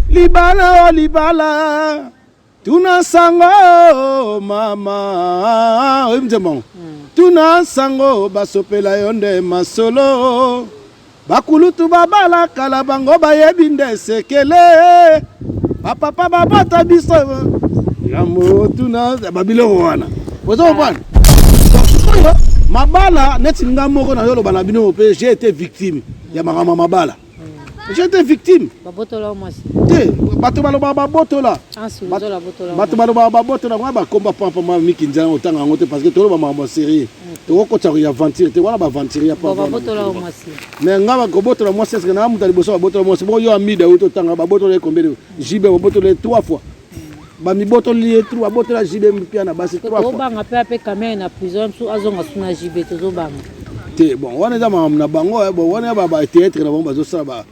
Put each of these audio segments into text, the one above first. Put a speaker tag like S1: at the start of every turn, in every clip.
S1: libala o oh, libala tuna sango oh, mama oyebi nzembo yango hmm. tuna sango basopela yo nde masolo bakulutu babala kala bango bayebi nde sekele bapapa babota biso yambo tuna babiloko wana ozo comprendre mabala neti nga moko nayo olobana bino mpe j'ai été victime ya makambo ya mabala j'étais victime
S2: te bato balobaka
S1: babotola ah, bato balobaka babotola wana bakomba pampa ma miki nzela otanga yango te parce que toloba makambo ya serie tokokotisa koya aventure te wana baaventure ya pampa
S2: mais nga kobotola
S1: mwasi eske naa moto ya liboso babotola mwasi bo yo amida oyo totanga babotola ye combien jibe babotola ye trois fois bamibotoli ye tru abotola jb mpia na basi tobanga mpe ape kamere
S2: na prison msu azonga su na jb tozobanga te bon wana
S1: eza makambo na bango eh, bon wana batheatre na bango bazosala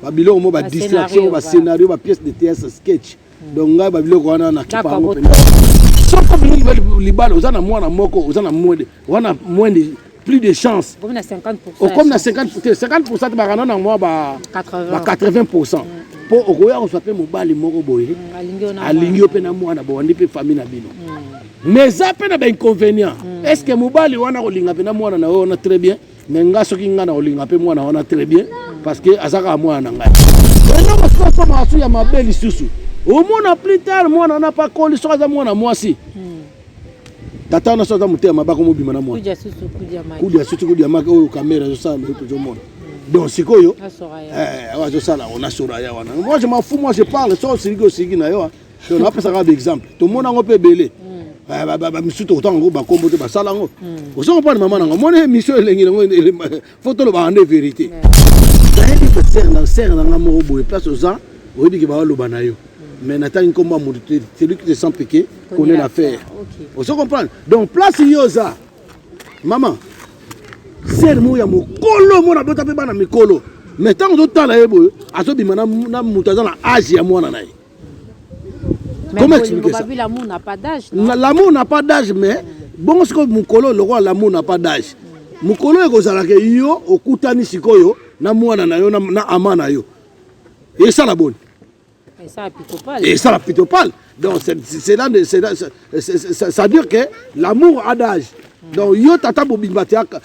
S1: babiloko mo badistraction bascenario bapièce de théâtre sketch hmm. donc ngai babiloko wana nakipa yango mpenza soko bilingi libala oza na mwana moko oza na mwede wana moins de plus de chance okomi
S2: na
S1: 50 50 bakana na mwa ba 80 mpo mm. okoya kozwa mpe mobali moko boye mm, alingi yo mpe na mwana bowandi mpe famille na bino mm. mais eza mpe na bainconvénient est ce que mobali wana kolinga mpe na mwana na yo wana très bien mais nga soki nga na kolinga mpe mwana wana très bien parce que aza kaka mwana na ngai ena mosusu asomaka su ya mabe lisusu omona plus tard mwana wana mpe akoli soki aza mwana mwasi tata wana so aza motema mabe akomobima na mwana kudi ya susu kudi ya maki oyo kamera ezosala nde tozomona donc sikoyo eh, azosala yango na soraya wana moi je m'en fous moi je parle so osiliki osiliki na yo donc napesaka baexemple tomona yango mpe ebele misusu tokotanga yango bakombo te basala yango ozo comprendre mama na yango omoni émission elengi na yango faut tolobaka nde verité nayebi ke sere na sere na nga moko boye place oza oyebi ke baoloba na yo mais natangi nkombo ya moto te celui qui te sent piqué connaît l'affaire ozo comprendre donc place yo oza mama sere moko ya mokolo mona bota mpe bana mikolo mais ntango ozotala ye boye azobima na moto aza na age ya mwana na ye Comment expliquer ça? L'amour n'a pas
S2: d'âge. L'amour n'a pas d'âge
S1: mais bongo sikoyo mokolo lokola l'amour n'a pas d'âge. Mokolo ekozala ke yo okutani sikoyo na mwana na yo na ama na yo. Esala boni? Esala pitopale. Esala pitopale. Donc c'est là ça dure que l'amour a d'âge. Donc yo tata bobimba tiaka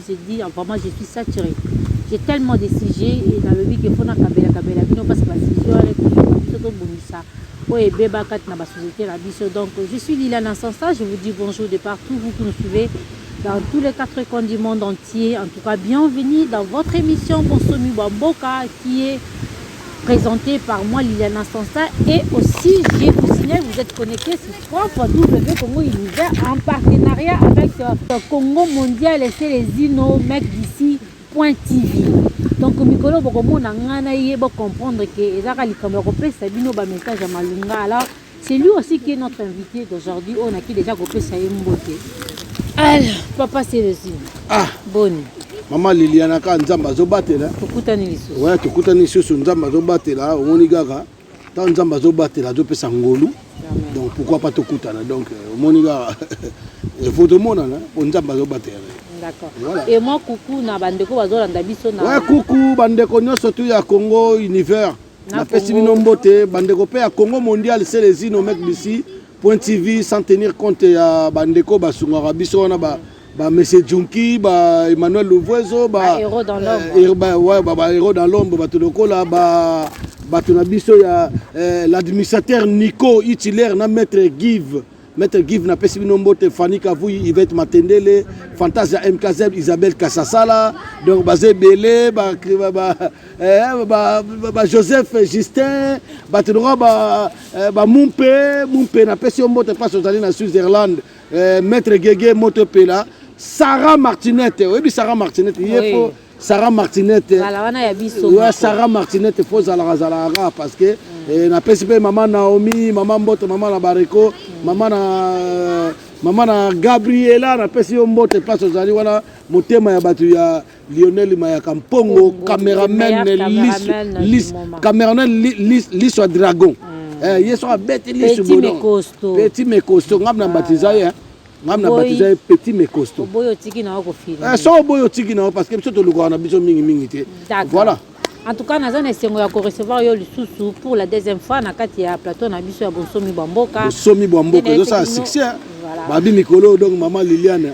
S2: Je dis vraiment je suis saturé. J'ai tellement de sujets et dans le but que faut na kabela kabela bino parce que la sujets wana ekosuka biso tobongisa oyo ebeba kati na basociété na biso donc je suis lila na sansa je vous dis bonjour de partout vous qui nous suivez dans tous les quatre coins du monde entier en tout cas bienvenue dans votre émission Bonsomi Bamboka qui est présentée par moi Liliana Sansa et aussi je vous signale vous êtes connecté www.congounivers en partenariat avec euh, Congo Mondial et Celezino Mec d'ici Point TV. Donc mikolo bokomona ngai na ye bo comprendre que ezaka likambo ya kopesa bino ba message ya malunga. Alors c'est lui aussi qui est notre invité d'aujourd'hui. On a qui déjà kopesa ye mbote. Alors papa Celezino. Ah boni. mama liliana
S1: kaka nzambe azobatela
S2: tokutani lisusu
S1: nzambe azobatela omoni kaka Tant Nzambe azo batela azo pesa ngolu. Donc pourquoi pas tokutana donc euh, omoni kaka il faut tomonana po Nzambe azo batela. D'accord. Voilà. Et
S2: moi coucou na bandeko bazolanda biso na. Ouais coucou bandeko
S1: nyonso tu ya Congo univers. napesi bino mbote bandeko mpe ya congo mondial selezino mek bisi point tv sans tenir compte ya bandeko basungaka biso wana ba ba monsieur Junki ba Emmanuel Louvoiso ba héros dans l'ombre
S2: euh, er, ba, ouais, ba, ba héros dans l'ombre
S1: bato lokola ba bato na biso ya euh, l'administrateur Nico Itiler na maître Give maître Give na pesi bino mbote Fanny Kavui Yvette Matendele Fantasia MKZ Isabelle Kasasala donc ba Zebele ba ba ba, eh, ba, ba, ba Joseph Justin bato lokola ba, eh, ba Mumpe Mumpe na pesi yo mbote parce ozali na Switzerland eh, maître gege moto epela sarah martinete oyebi sarah martinete ye po sarah martinete ya sarah martinete fo ozalaka zalaka kaka parce que mm. eh, napesi mpe mama naomi mama mboto mama na bareko mm. mama na mama na gabriela napesi yo mbote place ozali wana motema ya bato ya Lionel Mayaka Mpongo, cameraman Liso, cameraman Liso Dragon. Mm. Eh, yeso abeti Liso Bono. Petit Mekosto, ngam na batiza ye. Ngam na batiza ye Petit Mekosto. Boyo tiki na ko
S2: fini. Eh, so boyo tiki na
S1: parce que biso to lukwa na biso mingi mingi te. Voilà. En tout cas, naza
S2: na esengo ya ko recevoir yo lisusu pour la deuxième fois na kati ya plateau na biso ya Bonsomi Bamboka. Bonsomi Bamboka, ezo
S1: sala succès. Hein? Voilà. Babi mikolo donc maman Liliane.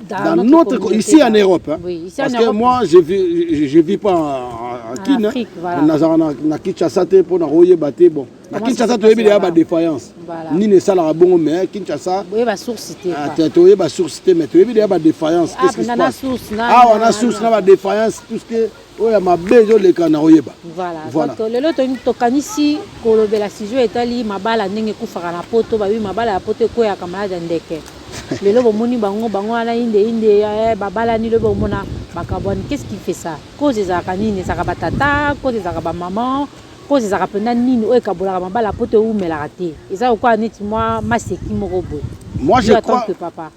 S1: dans, dans
S2: notre, notre
S1: ici en Europe hein. oui, ici parce en Europe, que moi je vis je vis pas en, en Chine voilà. nazala na,
S2: na Kinshasa
S1: te mpo na koyeba te bon na Kinshasa toyebi deya ba défaillance voilà. nini esalaka bongo mais Kinshasa toyeba
S2: source te ah, toyeba source te mais
S1: toyebi deya ba défaillance ah, qu'est-ce qui se passe awa na source na ba défaillance tout ce que oyo ya mabe ezoleka na koyeba voilà, voilà. donc lelo
S2: tokanisi kolobela sujet etali mabala ndenge ekufaka na poto babi mabala ya poto ekweyaka malade ya ndeke lelo bomoni bango bango wana inde inde eh, babalani lobi omona bakabwani qu'est ce qui fait ça cause ezalaka nini ezalaka batata cause ezalaka bamaman cause ezalaka mpenza nini oyo ekabolaka mabala poto ewumelaka te eza lokola neti mwa maseki moko boye moi je crois que
S1: papa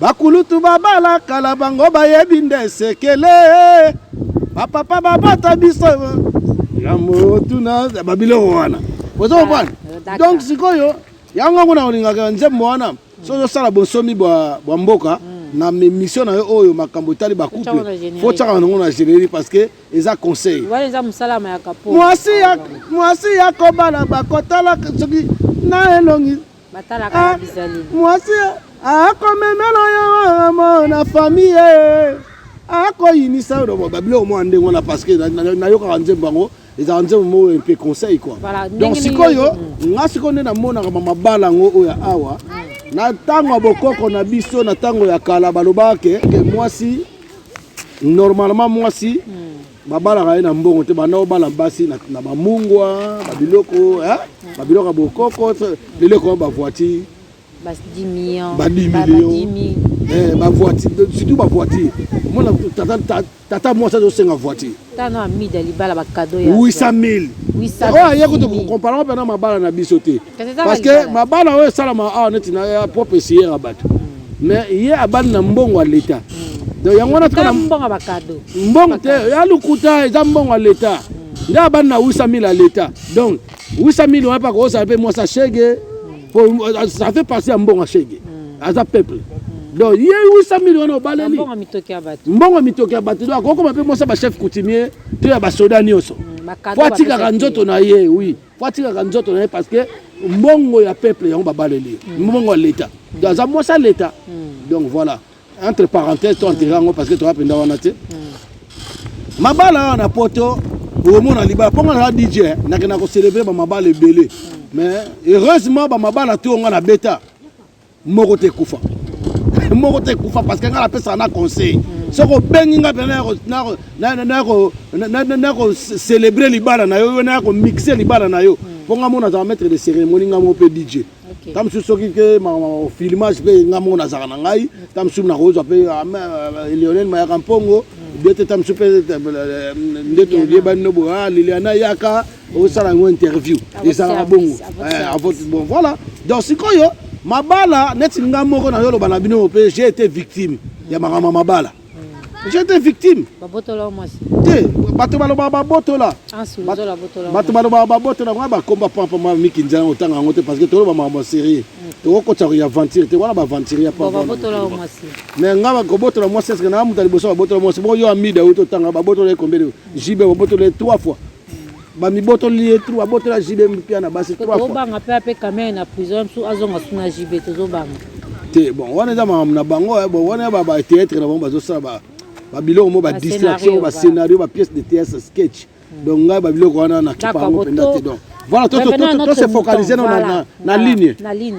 S1: bakulutu babala kala bango bayebi nde sekele bapapa babota biso yambo tuna babiloko wana oza kobana ah, donc sikoyo yango kuna olingaka nzembo wana soki osala bonsomi bwa mboka hmm. na émission na yo oyo makambo etali bacouple fo tyaka nango na générie parce que eza conseil
S2: mwasi
S1: ya kobala bakotala soki na elongi
S2: Ah, mwasi
S1: akomemela yo amo na famille akoyinisa yo lobo babiloko mwa ndenge wana parce que nayokaka nzembo yango ezalaka nzembo moko mpe conseil kua donc sikoyo nga sikoyo nde namonaka mamabala yango oyo ya awa na ntango ya bokoko na biso na ntango ya kala balobaka ke mwasi normalement mwasi hmm. babalaka ye na mbongo te banda obala basi na bamungwa babiloko babiloko ya bokoko lelo ekoma bavoiture
S2: badimilio
S1: bavoiture surtout bavoiture mona tata mwasi azosenga voiture
S2: 800 000
S1: oyo aye kutu kokomparaka mpena mabala na biso te parce que mabala oyo esalama awa neti na ya propre esiyera bato mais ye abandi na mbongo ya leta donc yango wana tika
S2: mbongo te ya
S1: lokuta eza mbongo ya leta nde abandi na 800 000 ya leta donc 800 000 wana mpe akosala mpe mwasi ashege po euh, ça fait partie ya mbongo ashege hmm. aza peuple hmm. donc ye 800 000 wana obaleli mbongo ya mitoki ya bato donc akokoma mpe mwasi ya bachef coutumier to ya basoda nyonso hmm, po atikaka nzoto na ye oui mm. po atikaka nzoto na ye parce que mbongo ya peuple yango babaleli mm. mbongo ya leta mm. aza mwasi ya leta mm. donc voilà entre parenthèse to enterre yango parce que toza mpenza wana te mabala awa na poto omona libala mpo nga naza dj eh, nakenda kocelebre bamabala ebele mais heureusement bamabala to nga na beta moko te ekufa moko te ekufa parce que ngai napesaka na conseil soki obengi ngai mpena naya kocelebre libala na yo yo naya komixe libala na yo mpo ngai mona azala maître de cérémonie ngai moko mpe dj ta mosusu soki ke filmage mpe ngai moko nazalaka na ngai ta mosusu nakozwa mpe ah, euh, lionel mayaka mpongo bete ta mosusu mpe euh, euh, nde toyebani no boya ah, liliana yaka osala yango interview ezalaka bongo eh, avote bon voilà donc sikoyo mabala neti nga moko na yoloba na bino mpe j'ai été victime ya makambo ya mabala hmm. j'ai été victime
S2: te bato
S1: balobaka babotola bato balobaka babotola wana bakomba pampa ma miki nzela otanga yango te parce que toloba makambo ya serie hmm. tokokotisa koya aventure te wana baaventure ya pampa
S2: mais nga
S1: kobotola mwasi eske naa moto ya liboso babotola mwasi bo yo amida oyo totanga babotola ye combien de jibe babotola ye trois fois bamibotoli ye tru abotola jb mpia na basi tobanga mpe ape kamere
S2: na prison ya mosusu azonga su na jb tozobanga te bon wana
S1: eza makambo na bango eh, bon wana batheatre na bango bazosala babiloko mo badistraction bascenario bapièce de théâtre sketch hmm. donc ngai babiloko wana nakipa yango mpenza te donc voilà tose focalise na ligne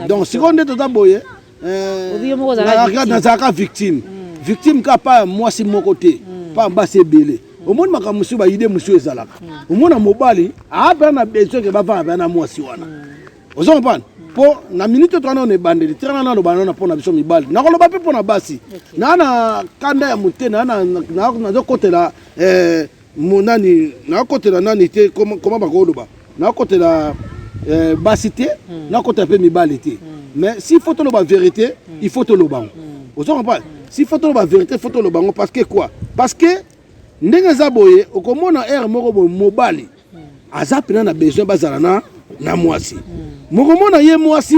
S1: donc sikoyo nde toza boye Eh, nazalaka victime hmm. victime ka pa mwasi moko te hmm. pa basi ebele hmm. omoni makambo mosusu baide mosusu ezalaka omona mobali aapea na besoin ke bavanda pea na mwasi wana ozo comprendre mpo na minute to wana ona ebandeli tika nana aloba nana mpo na biso mibali nakoloba mpe mpo na basi naa na kanda ya mote nazokotela eh, Mo nani nakotela nani te koma bakoloba nakotela eh, basi te hmm. nakotela mpe mibali te hmm. mais s'il faut toloba vérité hmm. il faut toloba yango ozo comprendre s'il faut toloba vérité faut toloba yango parce que quoi parce que ndenge eza boye okomona heure moko boye mobali aza mpena na besoin bazala na na mwasi mokomona ye mwasi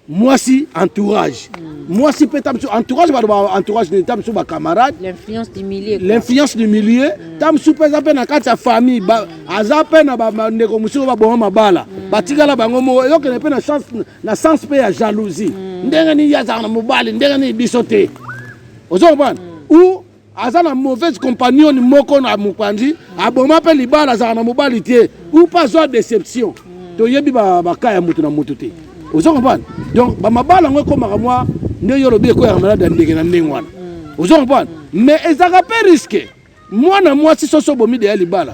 S1: mwasi entourage mm. mwasi mpe ta mosusu entourage bato ba entourage nini ta mosusu bacamarade l'influence du milieu mm. ta mosusu mpe eza mpe na kati ya famille ba, mm. aza mpe na bandeko mosusu baboma mabala mm. batikala bango moko eyokende mpe na, chance, na sens mpe ya jalousie mm. ndenge nini ye azalaka na mobali ndenge nini biso te ozo comprendre mm. ou aza na mauvaise compagnon moko na mopanzi aboma mpe libala azala na mobali te ou pas azwa déception toyebi baka ya moto na moto te ozo comprendre donc bamabala yango ekomaka mwa nde yo olobi ekweyaka malade ya ndenge na ndenge wana ozo comprendre mais ezalaka mpe riske mwana mwasi soso obomi deya libala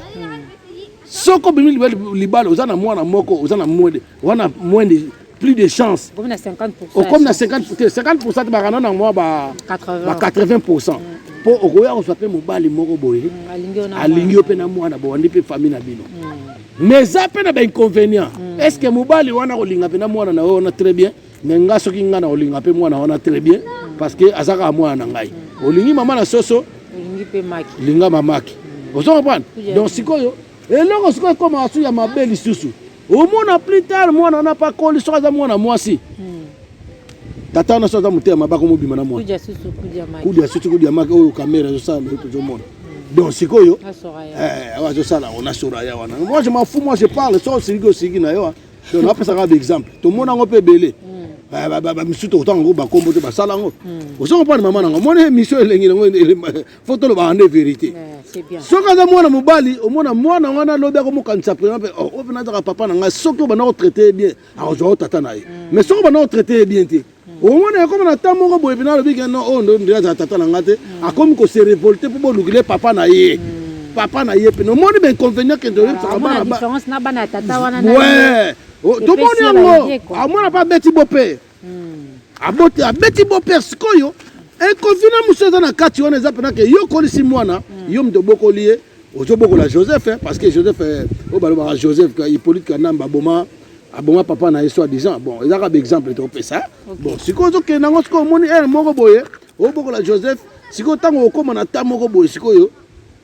S1: soko obimi libala oza na mwana moko oza na mwede wana moins de plus de chance
S2: okomi na
S1: 50 50 bakana na mwa ba 80 mpo mm. okoya kozwa mpe mobali moko boye mm, alingi yo mpe na mwana bowandi mpe famille na bino mm. mais eza mpe na bainconvénient est ce que mobali wana kolinga mpe na mwana na yo wana très bien mais nga soki nga na kolinga mpe mwana wana très bien parce que aza kaka mwana na ngai olingi mama na soso
S2: linga mamaki
S1: ozo comprendre donc sikoyo eloko sikoyo ekoma su ya mabe lisusu omona plus tard mwana wana mpe akoli soki aza mwana mwasi hmm. tata wana soki aza motema mabe akomobima na mwana kudia susu kudia maki oyo kamera ezosala lelo tozomona hmm. donc sikoyo eh, azosala yango na soraya wana moi je mafu moi je parle so osiliki osiliki na yo donc napesaka baexemple tomona yango mpe ebele hmm. bamisusu tokotanga yango bakombo te basala yango ozo comprendre mama na yango omoni emission elengi yango fo tolobaka nde verité soki aza
S2: mwana mobali
S1: omona mwana wana lobi akomokanisa prena mpe oh, oyo mpena azaka papa na ngai soki obanda kotraite ye bien akozwaka tata na ye mm. mais soki obanda kotraite ye bien te mm. omona ekoma na temps moko boye mpena alobi keno oyo oh, ndo nde azala tata na ngai te mm. akomi kose revolte mpo bolukile papa na ye papa na ye mpena omoni bainconvénient kende oyebisaka ah,
S2: bana
S1: tomoni yango amona mpe abeti bope aboti abeti boper sikoyo ekovina eh, mosusu eza na kati wana eza mpena ke yo okolisi mwana hmm. yo moto obokoli ye ozobokola joseph eh, parce que joseph eh, oyo balobaka joseph hippolyte kanamba aboma aboma papa na ye soit disant bon eza kaka baexemple topesa bon sikoyo ozokende yango sikoyo omoni ere moko boye obokola joseph sikoyo ntango okóma na ta moko boye sikoyo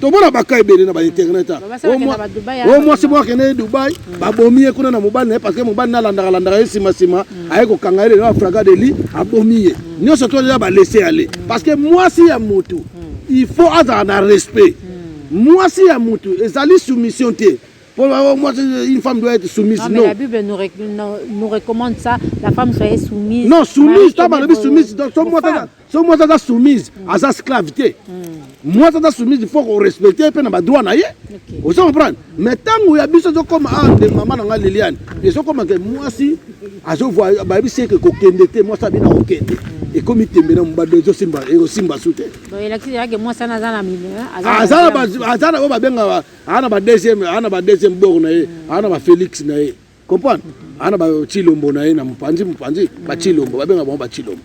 S1: tomona baka ebele na bainternet o mwasi moko akende ye dubai mm. babomi ye kuna na mobali na ye parce que mobali na alandaka landaka ye nsima nsima mm. aye kokanga ye lelo afraga de li abomi ye mm. nyonso to eza balese ale parce que mwasi ya motu il faut azala na respect mwasi ya motu ezali soumission te Pour moi, une femme doit être soumise. Non, mais non. la Bible nous, rec nous,
S2: nous, recommande ça. La femme soit soumise.
S1: Non, soumise, toi, ma soumise. Donc, moi, so mwasi aza soumise mm. aza sclave te mm. mwasi aza soumise faut korespecte ye mpe na badroit na ye ozo comprendre mais ntango ya biso ezokoma a ah, nde mama na ngai liliane mm. ezokoma ke mwasi azovua bayebisi eke kokende te mwasi abina kokende ekomi tembe na mobado ezosimba ekosimba su te aza na oyo babengaka aa na ba deuxième aa na ba deuxième bor na ye aa na ba félix na ye Comprendre? Ana ba chilombo na ye na mupanzi mupanzi ba chilombo ba benga bango ba chilombo.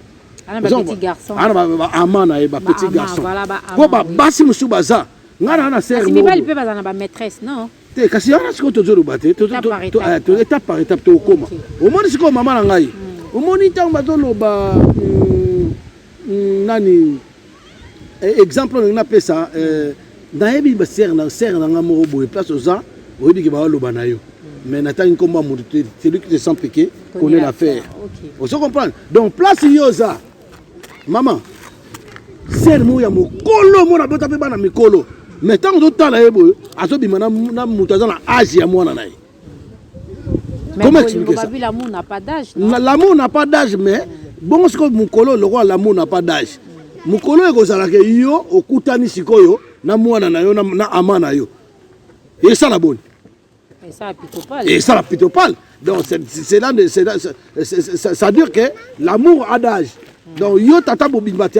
S1: Ana ba petit
S2: garçon. Ana ba ba ama na
S1: ye ba petit garçon. Voilà ba ama. Ko ba
S2: basi musu
S1: baza. Ngana na sœur. Kasi mibali pe baza na ba
S2: maîtresse non? Te kasi yana siko
S1: tozoloba te. To to to eh, étape par étape to koma. Omoni siko mama na ngai. Hmm. Omoni tango bazoloba hmm, hmm, nani Eh, exemple olingi napesa eh, nayebi basere na sere na ngai moko boye place oza oyebi ke baloba na yo mais natangi nkombo ya moto te celui qui te sent piqué connaît l'affaire ozo oh, comprendre donc place yo oza mama sere moko ya mokolo mona abota mpe bana mikolo mais ntango ozotala ye boye azobima na moto aza na age ya mwana na ye Comment expliquer ça?
S2: L'amour n'a pas d'âge.
S1: L'amour n'a pas d'âge mais bongo sikoyo mokolo lokola l'amour n'a pas d'âge. Mokolo ekozala ke yo okutani sikoyo na mwana na yo na ama na yo. Esala boni? Esala
S2: pitopale. Esala pitopale.
S1: Donc c'est là ça dure que l'amour a d'âge. Donc yo tata bobimba te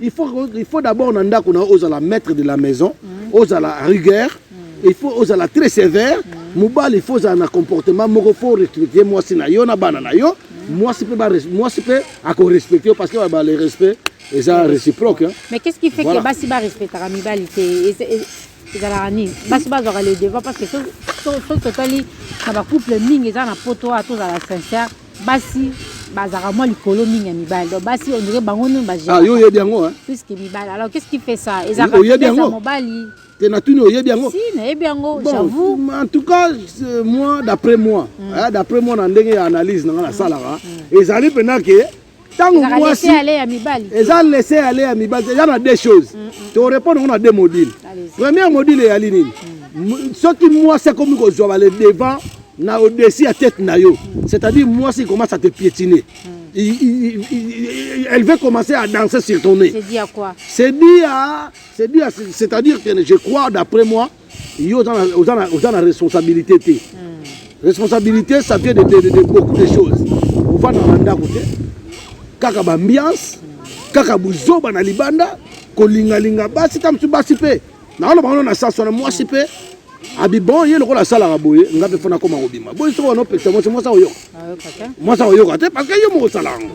S1: il faut, il faut d'abord na ndako na ozala maître de la maison mm. ozala rigueur mm. il faut ozala très sévère mm. mobali il faut ozala na comportement moko faut respecter mwasi na yo na bana na yo mm. mwasi mpe mwasi mpe akorespecte yo parce que ba le respect eza réciproque hein. mais qu'est ce qui fait voilà. que
S2: basi barespectaka mibali te ezalaka nini basi bazwaka le devant parce que soki totali na bacouple mingi eza na poto oyo tozala sincère basi bazalaka mwa likolo mingi ya mibali donc basi on dirait bango nini ba ah, yo oyebi yango hein?
S1: plus que mibali alors
S2: qu'est-ce qui fait ça ezalaka oyebi yango mobali te natuni oyebi
S1: yango si nayebi yango bon,
S2: j'avoue en tout cas
S1: euh, moi d'après moi mm. hein, d'après moi na ndenge ya analyse na nga nasalaka mm. mm. ezali mpenza ke ntango mwasi
S2: eza lese ya le ya
S1: mibali eza na deux choses mm, mm. torepondre yango na deux module première module eyali nini mm. soki mwasi akomi kozwa bale devant na odesi ya tete na yo c'est-à-dire mwasi commence à te piétiner elle veut commencer à danser sur ton nez c'est
S2: dit à c'est dit à
S1: c'est-à-dire que je crois d'après moi yo oza na, oza na, oza na responsabilité te mm. responsabilité ça vient de, de, de, de beaucoup de choses ovanda na ndako te kaka baambiance mm. kaka buzoba na libanda kolingalinga basi ta mosusu basi mpe naoloba ngo na saswa na mwasi mpe abibon ye lokola asalaka boye nga mpe fona akoma kobima boye soki wana opekisa mwasi mwasi akoyoka mwasi akoyoka te parce que yo moko osala yango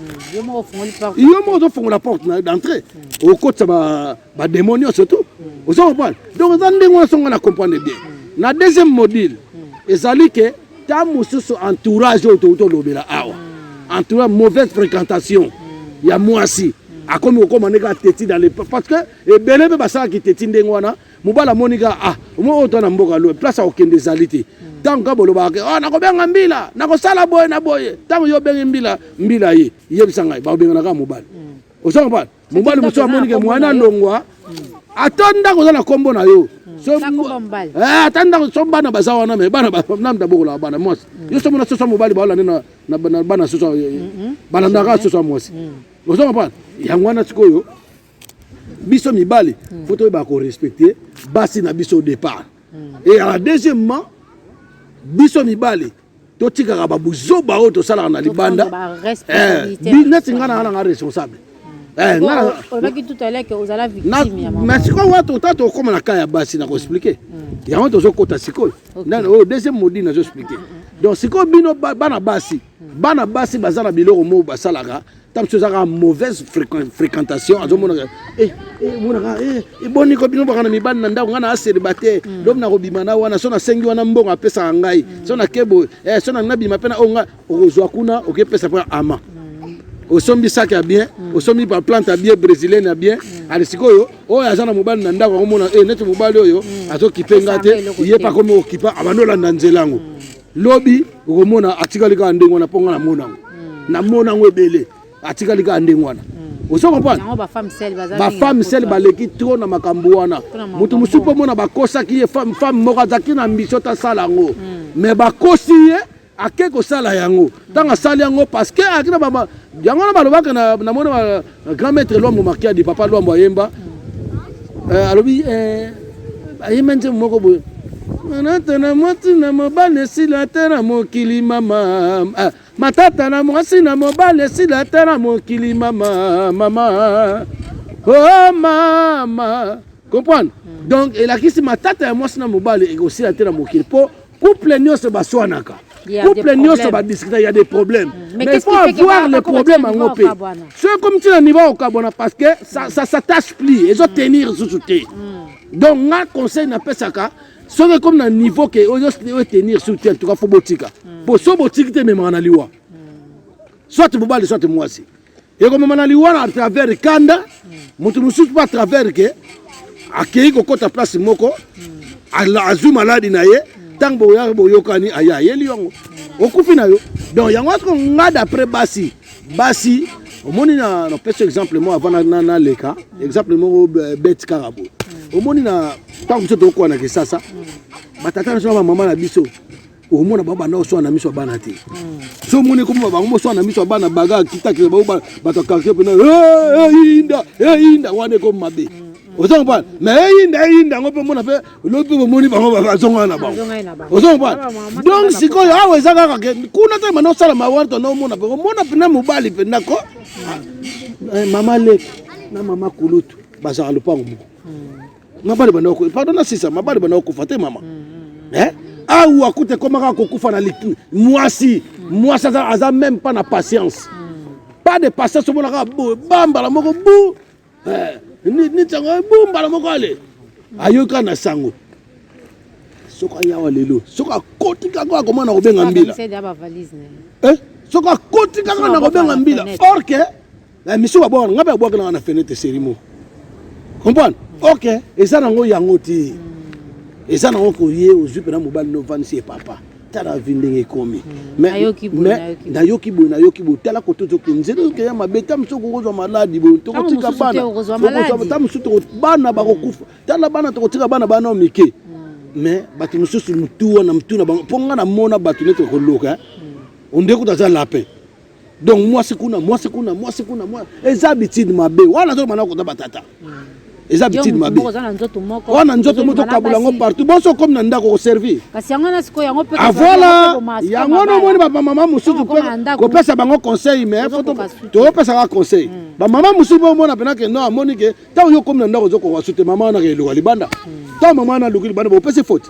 S1: yo moko ozofongola porte d'entrée okotisa ba demon nyonso tu oza kopana donc eza ndenge wana songo na comprendre bien na deuxième module ezali ke ta mosusu entourage oyo touti olobela awa entourage mauvaise fréquentation ya mwasi akomi kokoma ndenge ateti dans le parce que ebele mpe basalaki teti ndenge wana mobali amoni kaka ah omo oyo to na mboka loye place akokende ezali te ntango kaka bolobaka ke oh, nakobenga mbila nakosala boye na boye ntango yo obengi mbila mbila ye yebisa ngai bakobengana kaka mobali oza kopana mobali mosusu amoni ke mwana alongwa ata ndako oza na nkombo na yo eh, ata ndako so bana baza wana me bana namda bokolaka bana mwasi yo so mona soso mobali baolande na bana soso eh, mm-hmm. balandaka soso ya mwasi mm. ozo comprendre yango wana sikoyo biso mibali mm. fo toyeba korespecte basi na biso départ mm. et à la deuxièmement biso mibali totikaka babuzoba oyo tosalaka na libanda eh, neti ngai nanga nanga responsable eh,
S2: mais sikoyo wata ota
S1: tokoma na kai ya basi na koexplike mm, mm. yango tozokota sikoyo oyo deuxième modi nazo explike mm, donc sikoyo bino bana basi bana basi baza na biloko moko basalaka ntango mosusu ezaka mauvaise fréquentation azomonaka eh, eh, monaka eh, eboni ko bino baka na mibali na ndako ngai na aselibate mm. lobi nakobima na wana so nasengi wana mbongo apesaka ngai mm. so nake boye so nalingi nabima mpe na oyo ngai okozwa kuna okepesa mpo ama mm. osombi saki ya bien osombi baplante ya bien brésilienne ya bien ali sikoyo oyo aza na mobali na ndako akomona neti mobali oyo azokipe ngai te ye mpe akomi okipa abandi olanda nzela yango lobi okomona atikali kaka ndenge wana mpo nga namona yango hmm. namona yango ebele atikali kaka ndenge wana hmm. ozo comprendre bafemme sele baleki trop na makambo wana moto mosusu mpo mona bakosaki ye femme femme moko azalaki na mbisio tasala yango hmm. mais bakosi ye ake kosala yango ntango asali yango parce que ayaki na yango wana balobaka namoni Grand maître Luambo Makiadi, papa Luambo ayemba euh, alobi euh, ayemba nzembo moko boye manata na mwasi na mobali esila ata na mokili mama ah, matata na mwasi na mobali esila ata na mokili mama mama o oh, mama comprendre donc elakisi matata ya mwasi na mobali ekosila te na mokili mpo Couple nioso baswanaka. Couple nioso ba discuter il y a des problèmes. Mm. Mais, Mais il faut avoir les problèmes en OP. Ce comme tu n'as niveau au Kabona parce que ça ça s'attache plus. Ils ont mm. tenir sous soutien. Mm. Donc nga conseil na pesaka soki comme na niveau que oyo oyo tenir sous soutien en tout cas faut botika. Po so botiki te memana liwa. Soit bobali soit mwasi. ekomema na liwa na travers kanda moto mosusu mpe atravers ke akei kokɔta place moko azwi maladi na ye ntango boyaka boyokani aye ayeli yango okufi na yo donc yango atko nga d'après basi basi omoni na napesi exemple moko avant naleka exemple moko euh, bete kaka boye omoni na ntango biso tokokola na kisasa batata na biso na bamama na biso omona bango banda koswana na miso ya bana te so omoni ekoma bango boswana na miso ya bana baga akitakela bango bato ya quartier mpena eyinda eyinda wana ekomi mabe ozo comprendre mais eyinda eyinda yango mpe mona mpe lobi mpe bomoni bango bazongana na bango ozo comprendre donc sikoyo awa eza kaka ke kuna te mana osala mawari tona omona mpe omona mpena mobali mpena ko ah, eh, mama leki na mama kulutu bazalaka lopango moko mabali banda ko pardon na sisa mabali banda kokufa te mama mm-hmm. eh awa kuta ekomaka kokufa na mwasi mwasi aza, aza même pas na patience mm. pas de patience omonaka boye bambala moko bu eh, nitango eh, bu mbala moko ale ayoka na sango soki ayawa lelo soki akoti kaka akomana kobenga mbila eh, soki akoti kaka na kobenga mbila orke na mission ba bwana ngabe abwaka na na fenêtre serimo comprendre ok eza nango yango ti eza nango koye ozwi mpena mobali no vanisi ye papa tala vi ndenge ekomi nayoki boye nayoki boye tala kote ozoke nzela ozokeya mabe ta mosusu okokozwa maladi boye tokotika banata mosusu bana bakokufa tala bana tokotika bana bana o mike mais bato mosusu motu wana motu na bango mpo ngai namona bato neti bakoloka ondeko taza lapin donc mwasi kuna mwasi kuna mwasi kuna mwasi eza habitude mabe wana azoloba na kota batata hmm. eza habitude mabe wana nzoto moko tokabula yango partout bonso komi na ndako koservi avoila yango wana omoni bamama mosusu mpe kopesa bango conseil mais topesaka conseil hmm. bamama mosusu mpe omona mpena ke no amoni ke ntango yo okomi na ndako ozokoka sute mama wana ke eloka libanda hmm. ntango mama wana aluki libanda bopesi faute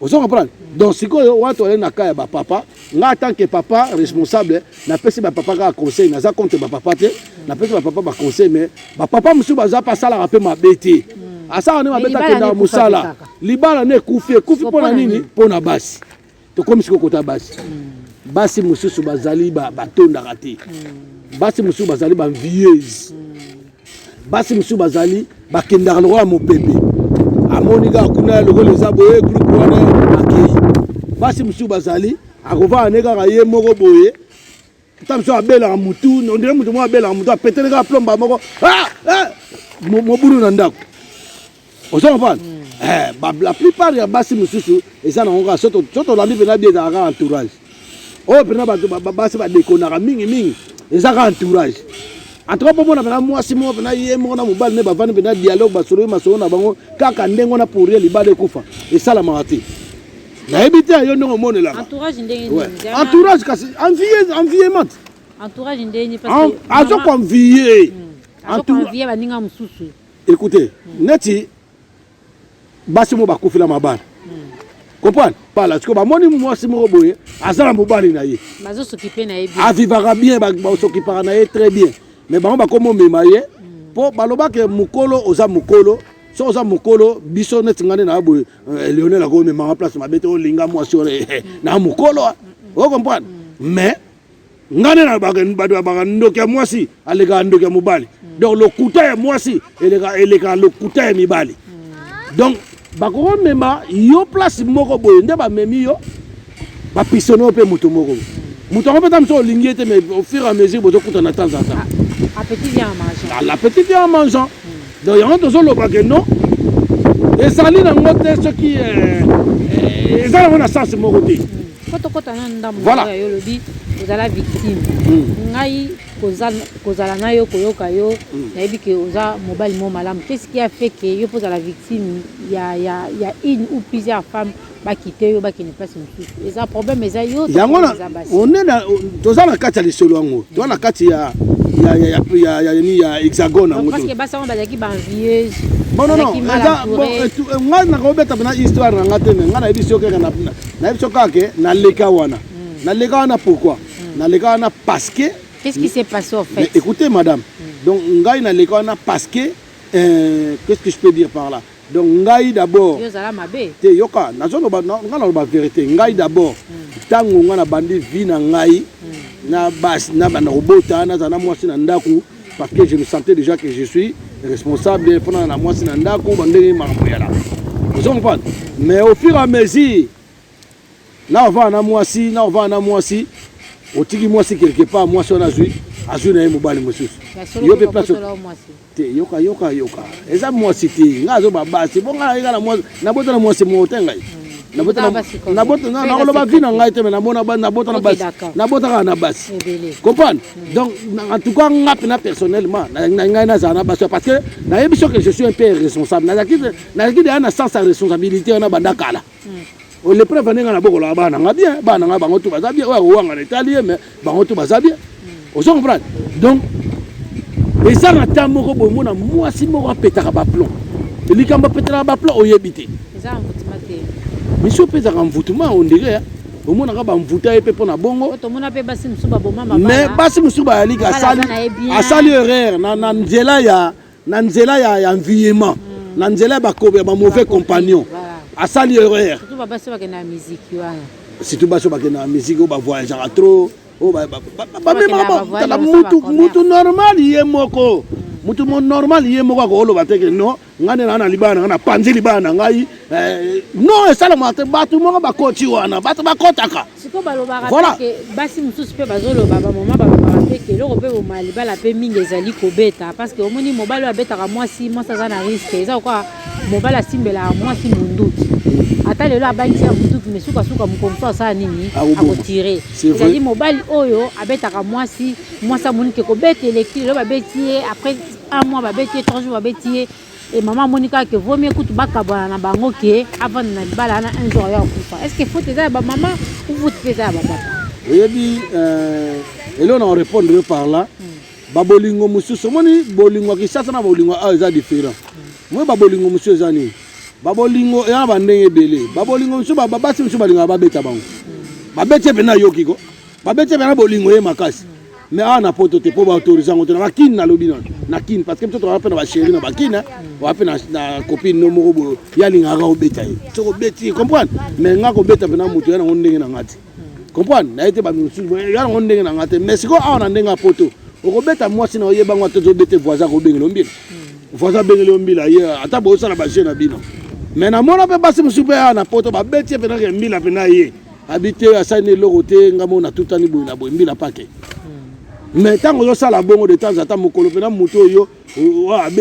S1: ozo comprendre donc sikoyo watu wale na kaya ba papa nga en tant que papa responsable na pesi ba papa ka conseil naza contre ba papa te na pesi ba papa ba conseil mais ba papa musu baza pa sala ka pe mabete hmm. asala ne mabete akenda musala libala ne kufi kufi pona nini pona basi tokomi sikoyo kota basi hmm. basi mususu bazali batondaka te hmm. basi mususu bazali ba vieuse basi mosusu bazali bakendaka lokola mopepe amoni kaka kuna lokola eza boye groupe wana akei basi mosusu bazali akovanda ne kaka ye moko boye ta mosusu abelaka motu ondire motu moko abelaka motu apetele kaka plomba moko ah, ah, mobulu na ndako ozo comprendre mm. eh, ba, la plupart ya basi mosusu eza nango kaka soki tolandi mpena bie ezalaka kaka entourage oyo oh, mpena bato basi badekonaka mingi mingi eza kaka entourage antuka mpo mona mpena mwasi moko mpena ye moko na mobali ne bavandi mpena dialogue basololi masolo na bango kaka ndenge wana pour ye libala ekufa esalamaka te nayebi te yo ndenge omonelaka
S2: entourage kasi
S1: enviement
S2: azo convie
S1: entourage
S2: baninga mosusu Écoutez,
S1: neti basi mo bakufi la mabala. Comprendre? Pala siko bamoni mwasi moko boye aza na mobali na ye. Bazo s'occuper
S2: na ye bien. Avivaka bien, ba
S1: s'occupaka na ye très bien. Mais bango bakomo mema ye po baloba ke mukolo oza mukolo so oza mokolo biso neti ngai nde na boye eh, lionel akomemanga place mabe te olinga mwasi oyo eh, eh, na mokolo o comprendre mais Ngai nde nalobaka bato babaka ndoki ya mwasi alekaka ndoki ya mobali. Donc lokuta ya mwasi elekaka lokuta ya mibali. Donc bakomema yo place moko boye nde bamemi yo bapisone yo mpe moto moko moto yango mpe ta mosusu olingi ye te mais au fur et à mesure bozokutana de temps en temps ah, appétit vient en
S2: mangeant ah, l'appétit vient en mangeant
S1: hmm. donc yango tozoloba ke non ezali nango te soki eh, eh, eza nango na sens moko te hmm. Faut tokota na ndambo
S2: Voilà. oyo ya yo olobi ozala victime Mm. ngai koza- kozala na yo koyoka yo Mm. nayebi ke oza mobali moko malamu qu'est ce qui a fait ke yo mpo ozala victime ya, ya, ya une ou plusieurs femmes bakite yo bakende place mosusu eza problème eza yo to yango na- eza basi one
S1: na- toza na kati ya lisolo yango toza na kati ya ya- ya- ya- ya- ya- nini, ya hexagone yango parce to- que basi yango bazalaki
S2: baenvieuse Bon, non, non, bazalaki mal
S1: eza- bon, entourée. eh, tu- eh, ngai nakobeta pena histoire na ngai te me ngai nayebi si okeka na nayebi so kaka ke naleka wana hmm. naleka wana pourquoi hmm. naleka wana parce que qu'est-ce qui s'est passé en
S2: fait écoutez madame hmm.
S1: donc ngai naleka wana parce que euh, qu'est-ce que je peux dire par là donc ngai d'abord te yoka nazoloba ngai naloba vérité ngai d'abord ntango ngai nabandi vie na ngai na basi na banda kobota nazala na mwasi na ndako parce que je me sentais déjà que je suis responsable mpo na na mwasi na ndako bandenge makambo yala ozo comprendre mais au fur et à mesure na ovanda na mwasi na ovanda na mwasi otiki mwasi quelque part mwasi wana azwi azwi na ye mobali mosusu yo mpe place te yoka yoka yoka eza mwasi te nga azoba basi bonga eka na mwasi nabota na mwasi moko te ngai nakoloba vi na ngai te me nabotaka na basi comprendre mm. donc en tout cas nga mpena personnellement ngai nazala na basi parce que nayebi soki je suis un peu responsable nazalaki deya na sens ya responsabilité wana banda kala mm. oh, le preuve ndenga na bokolaka bana nga bien bana nga bango tu baza bien oyo akowangana etali ye mais bango to baza bien ozo comprendre donc eza na temps moko boye mona mwasi moko apetaka baplon likambo apetaka baplon oyebi te
S2: miso mpe ezaka
S1: mvutuma ondire omonaka bamvuta ye mpe mpo na bongo
S2: mais basi mosusu
S1: bayalika asali erreur na nzela ya na nzela ya, ya enviema mm. na nzela ya bakobe ya ba mauvais compagnon voilà. asali erreur
S2: surtout basi oyo bakenda
S1: na miziki wana surtout basi oyo bakenda na miziki oyo bavoyageaka trop oyo bamemaka mutu, mutu normal ye moko mutu mo normal ye moko akoloba te ke non ngai nde naa na libala na ngai napanzi libala na ngai eh, non esalamaka te bato moko bakoti wana bato bakotaka siko balobaka voilà.
S2: ke basi mosusu mpe bazoloba bamama balobaka mpe ke eloko mpe boma libala mpe mingi ezali kobeta parce que omoni mobali oyo abetaka mwasi mwasi aza na riske eza kokoa mobali asimbelaka mwasi monduki ata lelo abangisi ya monduki me sukasuka mokolo mosusu asala nini akotire ezali mobali oyo abetaka mwasi mwasi amonike kobeta elekti lelo babeti ye après un mois babeti ye trois jours babeti ye Et maman Monica que vaut mieux que tu bakabana na bango que avant na libala na un jour ya kufa. Est-ce que faut te ba maman ou faut te ba papa? Oyebi
S1: euh et là on répondre yo par là. Ba bolingo mususu moni bolingo kisasa na bolingo ah eza différent. Moi ba bolingo mususu eza nini? Ba bolingo ya ba ndenge ebele. Ba bolingo mususu ba basi mususu balingaka babeta bango. Babeti mpe nayoki ko. babetaka na bolingo ye makasi me awa na poto te mpo baautorise yango te na bakine nalobi na na kine parce que biso tozala mpe na basheri na bakine oa mpe na copine no moko boyo ye alingaka obeta ye soki obeti ye comprendre mais nga kobeta mpe na moto ya nango ndenge na nga te comprendre naye te bamisusu ya nango ndenge na nga te mais sikoyo awa na ndenge ya poto okobeta mwasi na oyeba ngo atozobete voisin akobengela ombila voisin abengeli ombila ye ata bosala bajeu na bino mais namona mpe basi mosusu mpe awa na poto babeti ye mpenake mbila mpe na ye abi te asali na eloko te nga moko natutani boye na boye mbila pake hmm. mais ntango ozosala bongo de temps ata mokolo mpena moto oyo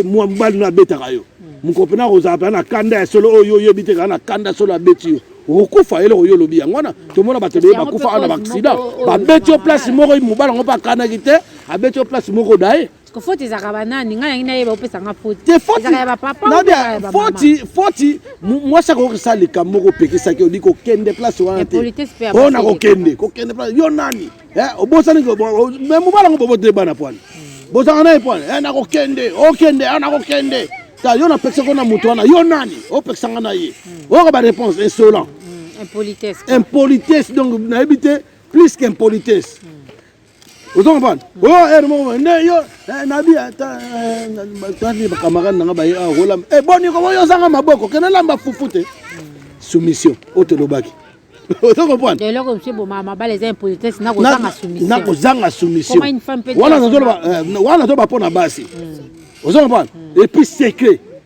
S1: mwa mobali no abetaka yo hmm. mokolo mpena akozala mpena na kanda ya solo oyo oyebi te kaka na kanda solo abeti yo okokufa eloko yo olobi yango wana tomona bato ebele bakufa awa na baaksida babeti yo place moko mobali yango mpe akanaki te abeti yo place moko daye Ko
S2: faute ezaka ba nani
S1: nga nangi nayeba opesa nga faute. Te faute ezaka ya ba papa na ya ba faute faute mwasi akokisa likambo kopekisaki odi kokende place wana te mpo na kokende kokende place yo nani eh, obosani me mobala ngo bobote bana pwani hmm. bozanga naye pwani eh, nakokende okende a ah, nakokende ta yo napekisaki na moto wana yo nani opekisa nga na ye hmm. oyoka ba réponse insolent hmm, impolitesse donc nayebi te plus qu'impolitesse ozo comprendre o oh, ere eh, moko nde yo eh, nabi ata eh, tani bakamarade nanga baye awa ah, kolamba e boni koboyo ozanga maboko kende lamba fufu te soumission oyo tolobaki ozo comprendre eloko mosu ebomaka
S2: mabala eza impolitesse na kozanga soumission
S1: na kozanga
S2: soumission wana nazoloba
S1: mpo na basi hmm. ozo comprendre hmm. epuis secret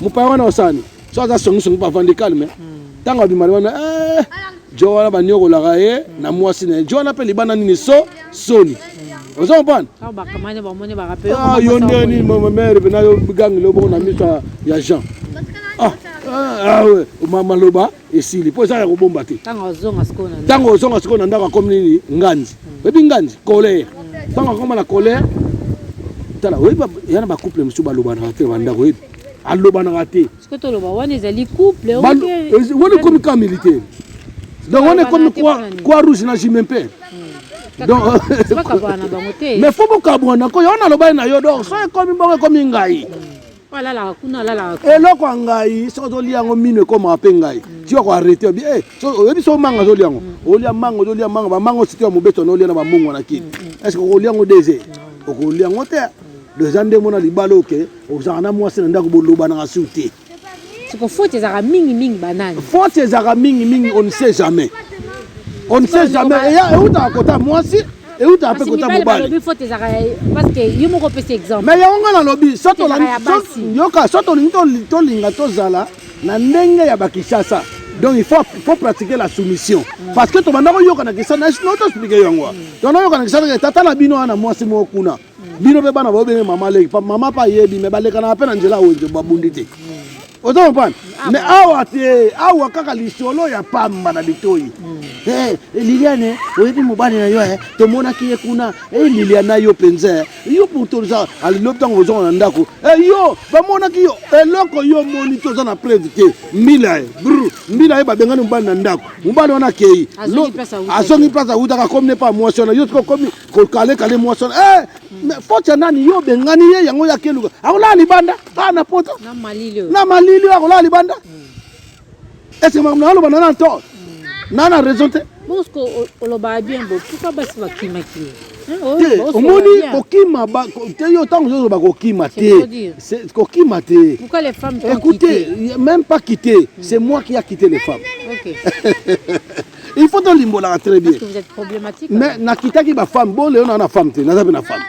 S1: Mopaya wana osani so aza songisongi mpo avandi calme ntango abimali wana eh, jo wana baniokolaka ye na mwasi na ye jo wana mpe libanda nini so soni ozo comprendre ah, yo nde nini mamere pena yo bigangi loboko na miso ya jean ah, ah, maloba esili mpo eza ya kobomba te ntango ozonga sikoyo na ndako akomi nini nganzi hmm. oyebi nganzi colère ntango hmm. akoma na colère tala oyebi ya na bacouple mosusu balobanaka te bandako oyebi alobanaka te
S2: wana
S1: ekomi ka militaire donc wana ekomi kwa rouge na jime mpe hmm. mais fo bokabwana ko yo wana alobani na yo donc so ekomi bongo ekomi ngai
S2: alalaka kuna alalaka eloko ya
S1: ngai soki ozolia yango mino ekomaka mpe ngai mm. ti yako arrete obi e oyebi so manga ozolia yango mm. olia manga ozolia manga bamanga ositi ya mobeto na olia na bamungwa na kini mm, estce okolia yango dese okolia yango te do eza ndenge mona libala oke ozalaka na mwasi na ndako bolobanaka sur te
S2: siko faute ezalaka mingi
S1: mingi banani faute ezalaka mingi mingi on ne sait jamais on ne sait jamais eutaka kota mwasi euta ape kota mobali
S2: mais yango nga nalobi
S1: yoka so tolingi tolinga tozala na ndenge ya bakishasa donc il faut, faut pratiquer la soumission mm. parce que tobanda koyoka na kisana nao toexplike yango mm. tobanda koyoka na kisana tata na bino wana mwasi moko kuna bino mpe bana baobenge mama leki mama mpe ayebi me balekanaka mpe na nzela ya wenze babundi te oza comprendre ah, me awa te awa kaka lisolo ya pamba na litoi hmm. eh, eh, liliane oyebi mobali na yo eh, tomonaki ye kuna liliana yo mpenza yo pourtoza alilobi ntango ozonga na ndako yo bamonaki yo eloko yo omoni te oza na preuve te mbila ye br mbila ye babengani mobali na ndako mobali wana akei azongi place awutaka akomi ne pa mwasi wana yo soki okomi kokale kale mwasi wana eh, mais faute ya nani yo obengani ye yango ya keluka akolala libanda aa na poto na malili oyo na malili oyo akolala libanda ese makambo naloba na na tort na na raison te bosko o-
S2: olobaka bien bo pourkui basi bakimaki ye Hein, o- te bosko omoni
S1: olobaka bien. kokima ba- ko- te yo ntango ozoloba kokima C'est trop te dur. C'est- kokima te pourquoi les femmes t'ont
S2: écoutez quitté même
S1: pas quitter c'est moi qui a quitté les femmes ok il faut tolimbolaka très bien mais
S2: nakitaki
S1: bafemme bole yo naa na femme te naza mpe na
S2: femme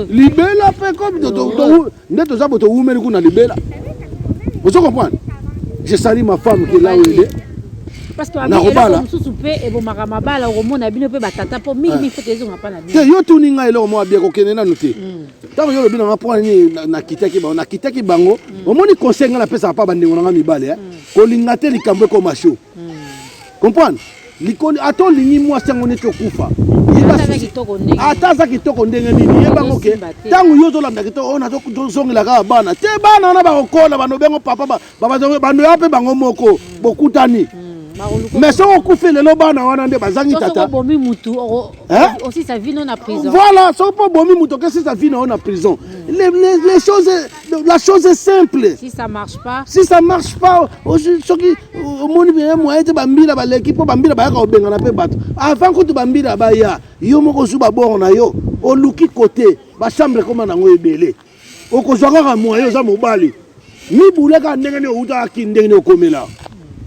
S2: libela mpe
S1: comme nde toza bo towumeli kuna libela ozo comprendre je sali ma femme ke la wele
S2: nakobala mosusu mpe ebomaka mabala okomona bino mpe batata mpo mingi mingi foto ezonga mpa na bino te yo tuni ngai eloko moko abia
S1: kokende nanu te mm. ntango yo olobi na nga mpo nini nakitaki bango nakitaki bango mm. omoni conseil ngai napesaka mpa bandeko na nga mibale eh? mm. kolinga te likambo ekoma sho mm. comprendre likoli ata olingi mwasi yango neti okufa ata aza kitoko ndenge nini yebango ke ntango yo ozolanda kitoko oyo nazozongela kaka bana te bana wana bakokola banobi yango papa bando ya mpe bango moko bokutani hmm, mais soki okufi lelo bana wana nde bazangi tata
S2: voilà soki mpo obomi
S1: moto okesisa vi na yo na prison hmm. les choses la chose est simple
S2: si ça marche pas si ça marche
S1: pas soki omoni bie moyen te bambila baleki mpo bambila bayaka kobengana mpe bato avant kutu bambila baya yo moko ozwi babor na yo oluki kote bachambre ekoma nango ebele okozwa kaka moyen oza mobali mibule kaka ndenge nini outaka kini ndenge nini okomela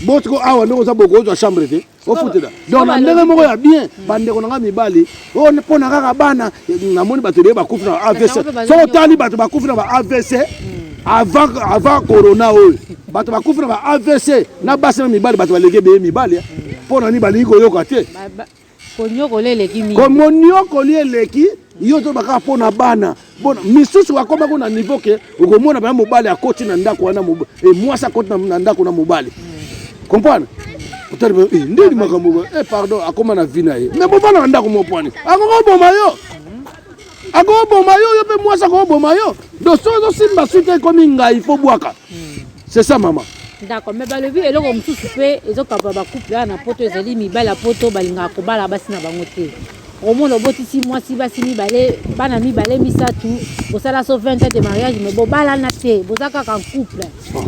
S1: botiko awa ndenge oza boko ozwa chambre te ofutela donc na ndenge moko ya bien bandeko na ngai mibali oyo mpo na kaka bana namoni bato ebele bakufi na ba avc soki otali bato bakufi na ba avc avant, avant corona oyo bato bakufi na ba avc na basi na mibali bato baleki ebele mibali mpo na nini balingi koyoka te Koniokoli
S2: eleki mingi. Komoniokoli eleki
S1: yo to baka mpo na bana bona misusu bakomaki na niveau ke okomona bana mobali akoti na ndako wana eh, mwasi akoti na ndako na mobali comprendre otali eh, ndeni makambo eh, pardon akoma na vi na ye me bobana na ndako mopwani akokoboma yo akoboma yo yo mpe mwasi akoboma yo donc soki ozosimba suite ekomi ngai fo bwaka c'est ça mama d'accord mais balobi
S2: eloko mosusu mpe ezokaba bacouple wana na poto ezali mibali ya poto balingaka kobala basi na bango te omona obotisi mwasi basi mibale bana mibale misato bosala so 20 ans de mariage me bobalana te boza kaka couple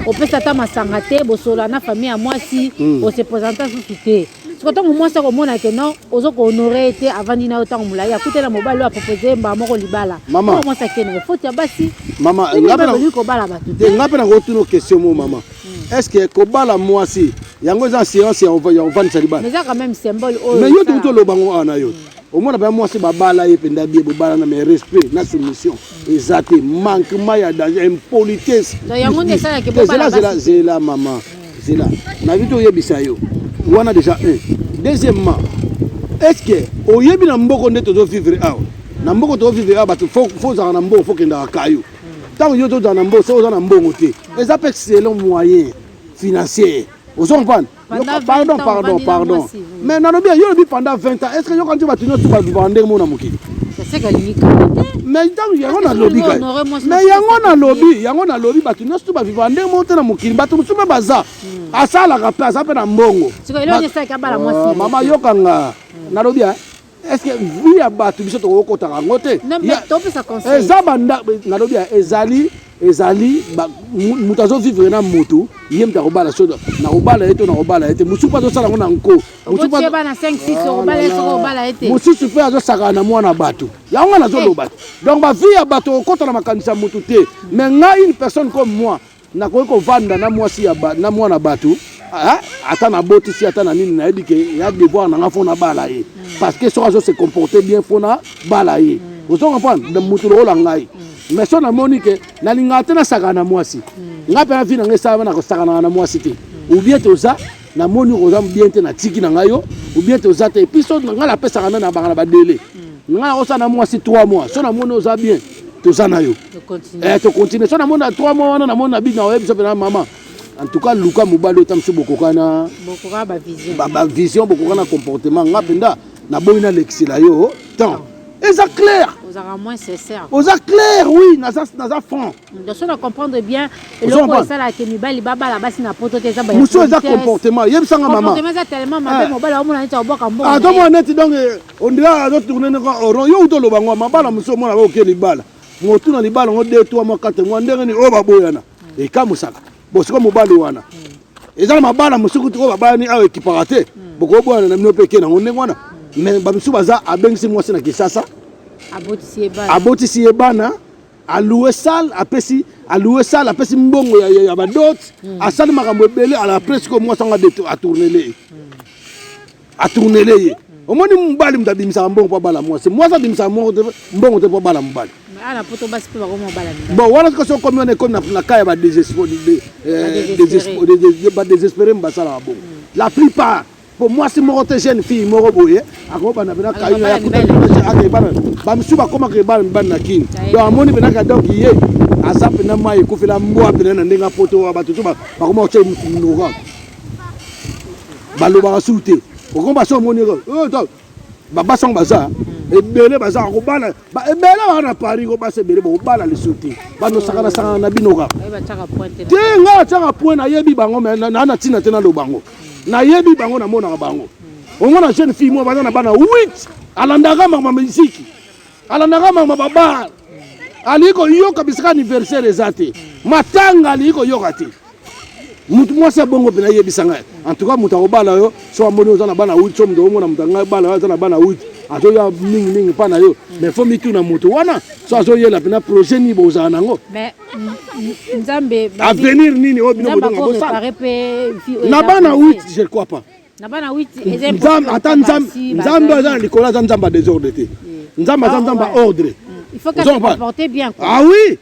S2: opesa ata masanga te bosola na famille ya mwasi hmm. osepresenta susu te siko ntango mwasi akomona ke non ozo kohonore ye te avandi na yo ntango molai akuta na mobali oyo apropose ye mbala moko libala mama mwasi akende
S1: na foti ya
S2: basi mama ngaolingi
S1: kobala bato te ngai mpe nakotuna question mo mama hmm. est ce que kobala mwasi yango eza assurance ya ovandisa libala eza quand même symbole
S2: oyo mais yo tokuti oloba yango
S1: awa na yo hmm. omona mpe mwasi babala ye mpe ndabi ye bobala na mais respect na soumission hmm. eza te manquement ya danger impolitesse yango nde esalaki
S2: bobala zela zela
S1: mama zela nabi toyebisa yo wana deja un deuxièmement est ce que oyebi na mboko nde tozo vivre awa na mboko tozo vivre awa bato fo ozala na mboko fo kendaka kayo ntango yo tozala na mbongo soki oza na mbongo te eza mpe selon moyen financier ozo comprendre pardon pardon pardon Mais nalobi yo lobi pendant 20 ans, est-ce que yo quand tu vas tenir tout ba vivre ndenge mona mokili?
S2: mais ntango
S1: yango nalobi kai mais yango nalobi yango nalobi bato nyonso to baviva ndenge moko te na mokili bato mosusu mpe baza hmm. asalaka mpe aza mpe na mbongo mama yokanga nalobi est-ce que vie ya bato biso tokoki kokotaka yango te eza banda nalobi ya ezali ezali moto azovivre na motu ye moto akobala so nakobala ye to nakobala ye te mosusu mpe azosala yango na nko
S2: mosusu mpe azosakana
S1: na mwana bato yango ngai nazoloba te donc bavie ya bato okokota na makanisi ya motu te mais ngai une personne comme moi Nakoki kovanda na mwasi ya ba, na mwana batu ah, ata nabotisi ata na nini nayebi ke ya devoir na nga fo nabala ye mm. parce que soki azo se comporter bien fo nabala ye mm. ozo comprendre mutu lokola ngai mm. mais so namoni ke nalingaka te nasakana na mwasi mm. ngai mpe na vi na ngai esalama na kosakanaka na mwasi te mm. ou bien toza na moni oza bien te na tiki na ngai yo ou bien te oza te et puis so na ngai napesaka na na banga na ba délai na ngai osa na mwasi 3 mois so na moni oza bien toza na yo eh to continuer so na moni na 3 mois wana na moni na bino oyebi so pena maman en tout cas luka mobali ota mosusu bokokana bavision bokokana comportement nga mpenza naboyi nalekisela yo temps eza claire
S2: oza claire oui
S1: naza franc Donc soki na comprendre
S2: bien eloko esalaka ke mibali babala basi na poto te eza ba musu eza comportement
S1: yebisa nga mama
S2: comportement eza tellement mabe eh.
S1: mobali omona neti obwaka mbongo ato mona neti donc eh, on dirait azo tourner noko oron yo uto loba ngo mabala musu omona oke libala motu na libala ngo 2 3 mois 4 mois ndenge ni oyo baboyana hmm. ekamusaka bosiko mobali wana hmm. eza na mabala mosusu kutu oyo babalani awa ekipaka te hmm. bokoboyana na bino mpe eke nango ndenge wana mais bamisusu baza abengisi mwasi na kisasa abotisi ye bana a louer salle apesi a louer salle apesi mbongo ya, ya, ya badot mm. asali makambo ebele ala presque au moins anga a tournele ye mm. a tournele ye mm. omoni mobali moto abimisaka mbongo mpo abala mwasi mwasi abimisaka mbongo te mbongo te mpo abala mobali
S2: bon wana soki soki komi
S1: wana ekomi na cas ya badesespere basalaka bongo la plupart po mwasi moko te jeune fille moko boye akobanda mpena kaibana bamisusu bakomaka ebana mibali na kini donc amoni mpena ka donc ye aza mpena mai ekufela mbwa mpena na ndenge apoto wa bato to bakoma kotya motu minoko balobaka sulu te okomba so omoni Ba basi yango baza ebele baza kobala ba ebele ba na Paris ko basi ebele ba kobala lisusu te ba no sakana sakana na bino ka. Te nga na tiaka point na yebi bango mais na na tina te na lo bango. Na yebi bango na monaka bango. Ongo na jeune fille mo baza na bana 8 alandaka mama miziki. alandaka mama babar alingi koyoka bisika anniversaire eza te matanga alingi koyoka te mutu mwasi ya bongo mpena yebisa ngai antuka moto akobala yo so amoni oza na bana wit so moto omona moto angai bala yo aza na bana wit azoya mingi mingi mpa na yo mais fo mituna moto wana so azoyela mpena projet nini bozala nango
S2: avenir
S1: nini oyo bino bodonga bosala na bana wit je crois pas
S2: Nzambe ata Nzambe
S1: Nzambe aza na likolo aza Nzambe ya desordre te. Nzambe aza Nzambe ya ordre. Il faut que tu comporte bien
S2: quoi. Ah oui.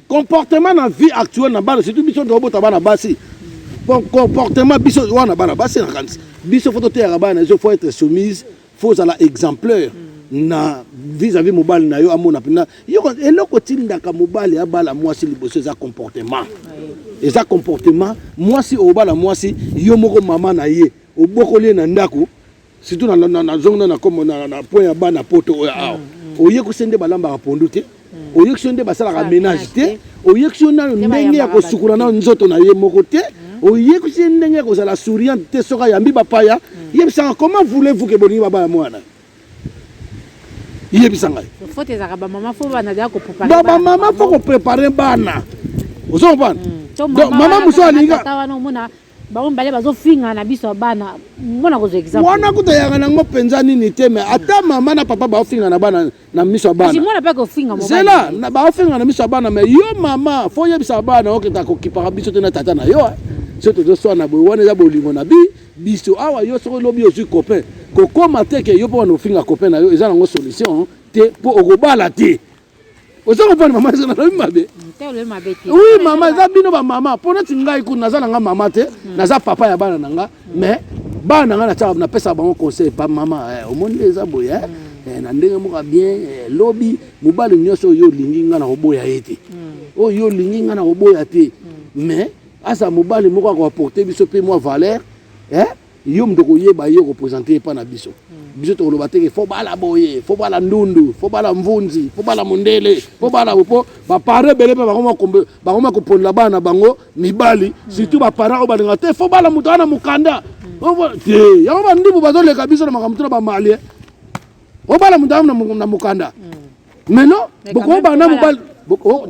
S1: Comportement na vie actuelle na bana surtout biso ndio bota bana basi. Bon comportement biso wana bana basi na kanisa. Biso faut toteyaka bana il faut être soumise faut ozala exemplaire mm. na vis-à-vis mobali na yo amona mpena yoko eloko etindaka mobali abala mwasi liboso eza comportement eza comportement mwasi obala mwasi yo moko mama na ye obokoli ye na ndako surtout nazongi na point ya bana poto oyo awa mm, mm. oyekuse nde balambaka pondu te hmm. oyokisi yo nde basalaka menage te oyokisi yo nayo ndenge ya kosukula nayo nzoto na ye moko te hmm. oyekisi ye ndenge ya kozala souriante te soki ayambi bapaya hmm. yebisaka comment voulez-vous ke bolingi babaya mwana yebisa ngai
S2: bamama fo koprepare
S1: bana ozo comprendre mama mosusu alinga
S2: bango mibale bazofinga na biso ya bana mona kozwa exemple wana kuta yanga nango
S1: mpenza nini te me ata mama na papa baofinga na bana na miso ya banamona mpe kofinga
S2: zela baofinga
S1: na miso ya bana me yo mama fo oyebisa bana okenda kokipaka biso te na tata na yo so tozoswana boye wana eza bolingo na bi biso awa yo soki lobi ozwi copain kokoma te ke yo mpo wana ofinga copain na yo eza nango solution te mpo okobala te oza kopona mama eza nalobi mabe oui mama eza bino bamama mpo neti ngai kuna naza na nga mama te hmm. naza papa ya bana na nga mais bana na nga natyaka napesaka bango conseil pa mama eh, omoni nde eza boye eh? hmm. eh, na ndenge moka bien lobi mobali nyonso oyo olingi ngai nakoboya ye te hmm. oyo olingi ngai nakoboya te mais aza mobali moko akoaporte biso mpe mwa valeur Yo moto okoyeba ye okopresente ye epai na biso biso tokoloba teke fo bala boye fo bala ndundu fo bala mvunzi fo bala mondele fo bala mpo bapare ebele mpe bakoma koponela bana na bango mibali surtout bapara oyo balinga te fo bala moto wana mokanda te yango bandubu bazoleka biso na makambo tuna bamalie obala moto wana na mokanda maintenant bokoba na mobali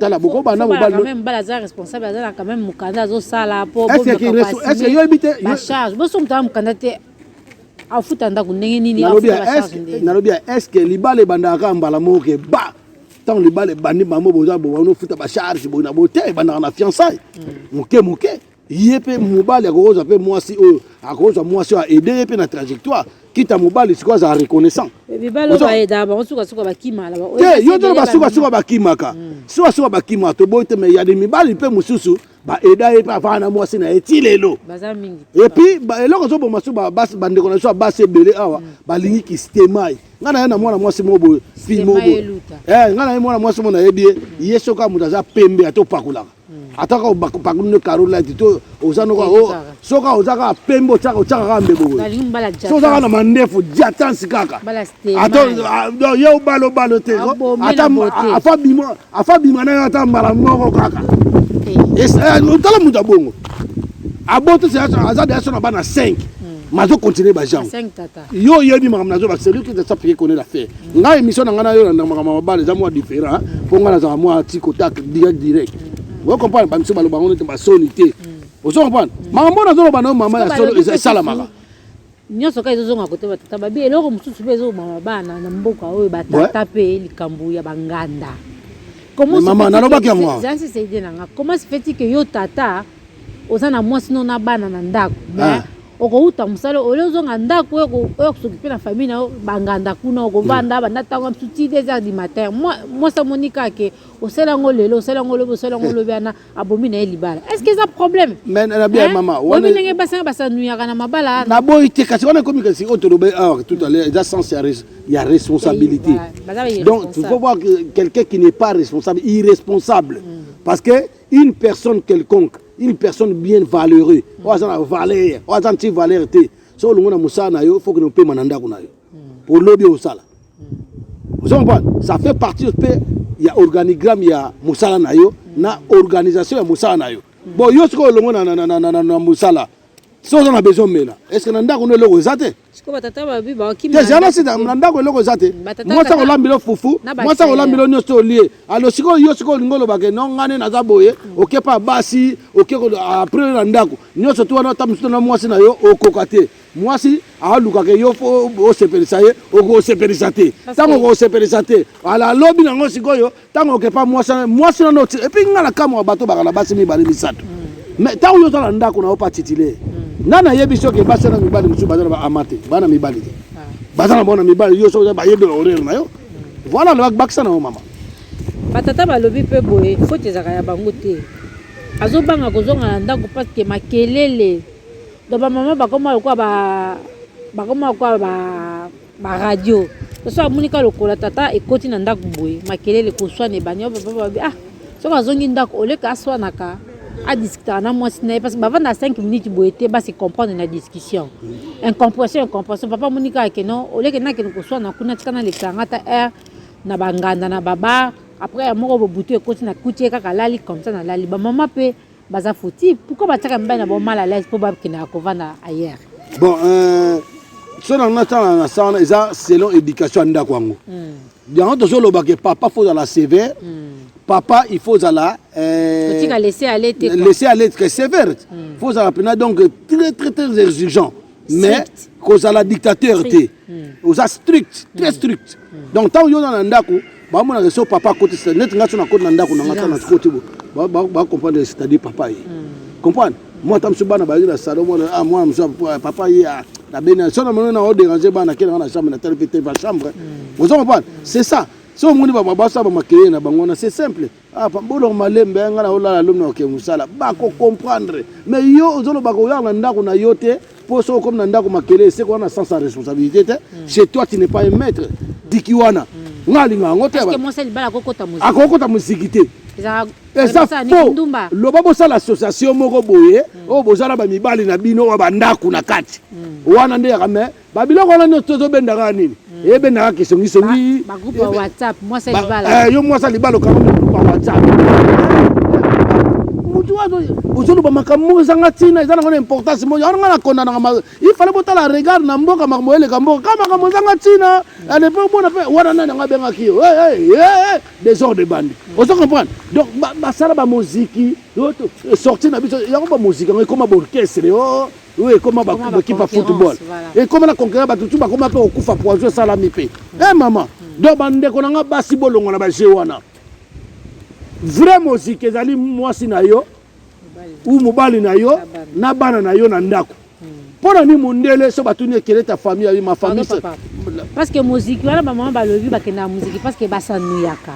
S1: tala bokoba na mobali quand même bala za responsable
S2: aza na quand même mukanda azo sala po bo est-ce que
S1: yo habite la charge bo so mutala
S2: mukanda te afuta ndako ndenge nini nalobi nalobi
S1: est-ce que libala ebandaka mbala moko ke ba ntango libala ebandi bango boza bowana ofuta bacharge boye na bote ebandaka na fiançaille moke moke ye mpe mobali akokozwa mpe mwasi oyo akokozwa mwasi oyo aide ye mpe na trajectoire kita mobali sikoyo azala reconnaissant
S2: te yo tolo basukasuka
S1: bakimaka mm. sukasuka bakimaka toboyi te mai ya de mibali mpe mosusu baeda ye mpe avanda na mwasi na ye ti lelo
S2: epuis eloko
S1: ezoboma so bandeko na biso ya basi ebele awa mm. balingi kistemai ngai naye na mwana mwasi moko boye fimo boye eh, ngai naye mwana mwasi moko nayebi ye ye soki moto aza pembe atopakolaka ata kaka obakopakoli nde caro light to oza noko o oh, soki kaka oza kaka pembe otyaka otyaka kaka mbebo boye soki oza kaka na mandefu diatansi kaka ata ah, ye obala obala te afa bima na yo ata mbala moko kaka eh. eh, otala moto ya bongo aboti aza deya so na bana 5 mazo continue bajango yo oyebi makambo nazoloba celui qui ne sait pas connaît l'affaire ngai émission na ngai nayo na makambo ya mabala eza mwa différent mpo ngai nazala mwa tiko tak direct direct oyo comprendre bamisu baloba yango nete basoni te ozo comprendre makambo oyo nazoloba nayo mama ya solo esalamaka nyonso kaka
S2: ezozonga kote batata babi eloko mosusu mpe ezoboma bana na mboka oyo batata mpe likambo ya banganda mama nalobaki yango
S1: eza sese ide na nga comment
S2: se fait-il que yo tata oza na mwasi no na bana na ndako ah. okouta mosala oli ozonga ndako oyo kosokipe na famille na yo banganda kuna okovanda banda ntango misusu ti des heures du matin mwasi amoni kaka ke osala yango lelo osala yango lobi osala yango lobi wana abomi na ye libala est ce que eza problème oyebi
S1: ndenge basanga
S2: basanuyaka na mabala naboyi te kasi wana
S1: ekomi kasi oyo tolobe or tout à l'heure eza sens ya responsabilité donc tu faut voir quelqu'un qui n'est pas responsable irresponsable mm. parce que une personne quelconque une personne bien valeureux mm. oyo aza na valeur oyo aza nti valeur te so olongo na mosala na yo fokende opema na ndako na yo mpo mm. lobi osala mm. ozo comprendre ça fait partie mpe ya organigramme ya mosala na yo na organisation ya mosala na yo bon yo sikoyo olongo na mosala so oza na besoin omela eske na ndako no eloko eza te
S2: tezala sida na ndako
S1: eloko eza te mwasi akolambila yo fufu mwasi akolambila yo nyonso olie alo sikoyo yo sikoyo olingi olobake no ngai nde naza boye oke pa basi oke apres yo na ndako nyonso to wana ata mosusu na mwasi na yo okoka te mwasi alukaka yo fo osepelisa ye okosepelisa te ntango okosepelisa te ala alobi nango sikoyo ntango oke pa mwasi mwasi nano oti epuis ngai nakamwa bato baka na basi mibale misato mm. mais ntango yo oza na ndako na yo pa titile mm. nani ayebi soki basi na mibali mosusu baza na baama te bana mibali te ah. baza na bona mibali yo soki bayebi orere na yo mm. voilà lobaki bakisa na yo mama batata
S2: balobi mpe boye foti ezalaka ya bango te azobanga kozonga na ndako parce que makelele donc bamama bakoma lokola bakoma lokola ba ba radio soso amoni ka lokola tata ekoti na ndako boye makelele koswana ebandi babababi ah soki azongi ndako oleka aswanaka adiskutaka na mwasi na ye parce que bavanda 5 minutes boye te base comprendre na discussion incompression incompression papa amoni kaka ke non oleke nakende koswana kuna tika nalekisa nga ta heure na banganda na babar après ya moko bobutu ekoti na kuti ye kaka alali comme ça nalali bamama mpe baza foti pourquoi batiaka mibali na bango mal à l'aise mpo bakendaka kovanda ailleurs bon euh, so na
S1: na tala na sa wana eza selon éducation ya ndako yango hmm. yango tozoloba ke papa fo ozala sévère hmm. papa il faut ozala euh,
S2: laisser aller
S1: très sévère hmm. fo ozala mpena donc très très très exigeant mais kozala dictateur te hmm. oza strict très hmm. strict hmm. donc ntango yo oza na ndako bamonaka so papa akotisa neti ngai so nakoti na ndako na ngai ntango nakoti bacomprendre c'est-à-dire papa ye comprendre moi ata mosusu bana bayaki na salon mwana ah mwana mosusu ah, papa ye ah, na beni so na moni na oderange bana akenda nga na chambre na tali mpe te va chambre oza comprendre c'est ça so omoni babasa bamakeye na bango wana c'est simple Ah, pambolo malembe eh, nga na olala lomi na oke mosala bako comprendre mais yo ozoloba koyaka na ndako na yo te mpo soki okomi na ndako makele eseko wana sens ya responsabilité te hmm. chez toi tu n'es pas un maître diki wana hmm. nga alinga yango te
S2: akokota moziki te
S1: eza fo loba bosala association moko boye hmm. oyo bozala bamibali na bino oyo bandako na kati wana nde yaka mais ba biloko wana nyonso tozobenda kaka nini hmm. ebenda kaka kisongisongi
S2: eh, yo mwasi alibala okanga
S1: mokulupa whatsapp mutu wazo ozoloba makambo moko ezanga ntina eza nango na importance moko yango nga nakondanaka ifale botala regard na mboka makambo eleka mboka ka makambo ezanga ntina anepe omona mpe wana nani yango abengaki yo desordre de bande hmm. ozo comprendre donc basala bamoziki sorti na biso yango bamoziki yango ekoma baorchestre oh. Oui, ekoma ba ba kipa football. Ekoma na conquérir ba tutu ba koma pe okufa poison sala mi pe. Mm. Eh maman, mm. donc ba ndeko na nga basi bolongo na ba jeu wana. Vrai musique ezali mwasi na yo ou mobali na yo na bana na yo na ndako. Mpo na nini mondele so batuni ekele ta famille ayi ma famille parce que
S2: moziki wana bamama balobi bakendaka moziki parce que basanuyaka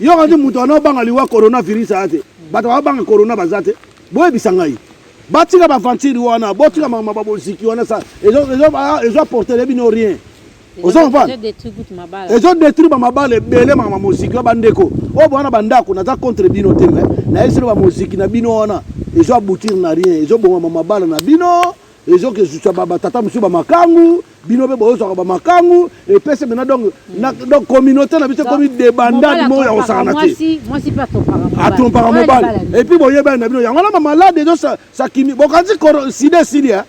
S1: Yo kani mutu ana obanga liwa corona virus aya te bato babanga corona baza te boyebisa ngai batika baventire wana botika mama baboziki wana sa ezo apportele bino rien ezo détruire bamabala ebele mama moziki wa bandeko oyo bowana bandako naza contre bino te me nayebisino bamoziki na bino wana ezo aboutir na rien ezobongama mabala na bino ezoka ezusa batata mosusu bamakangu bino mpe bozwaka bamakangu epese mena donc hmm. communauté na biso ekomi debandade moko ya kosakana te
S2: atompaka mobali
S1: epuis boyebani na bino yango wana bamalade ezo sakimi bokanisi sida esili eh?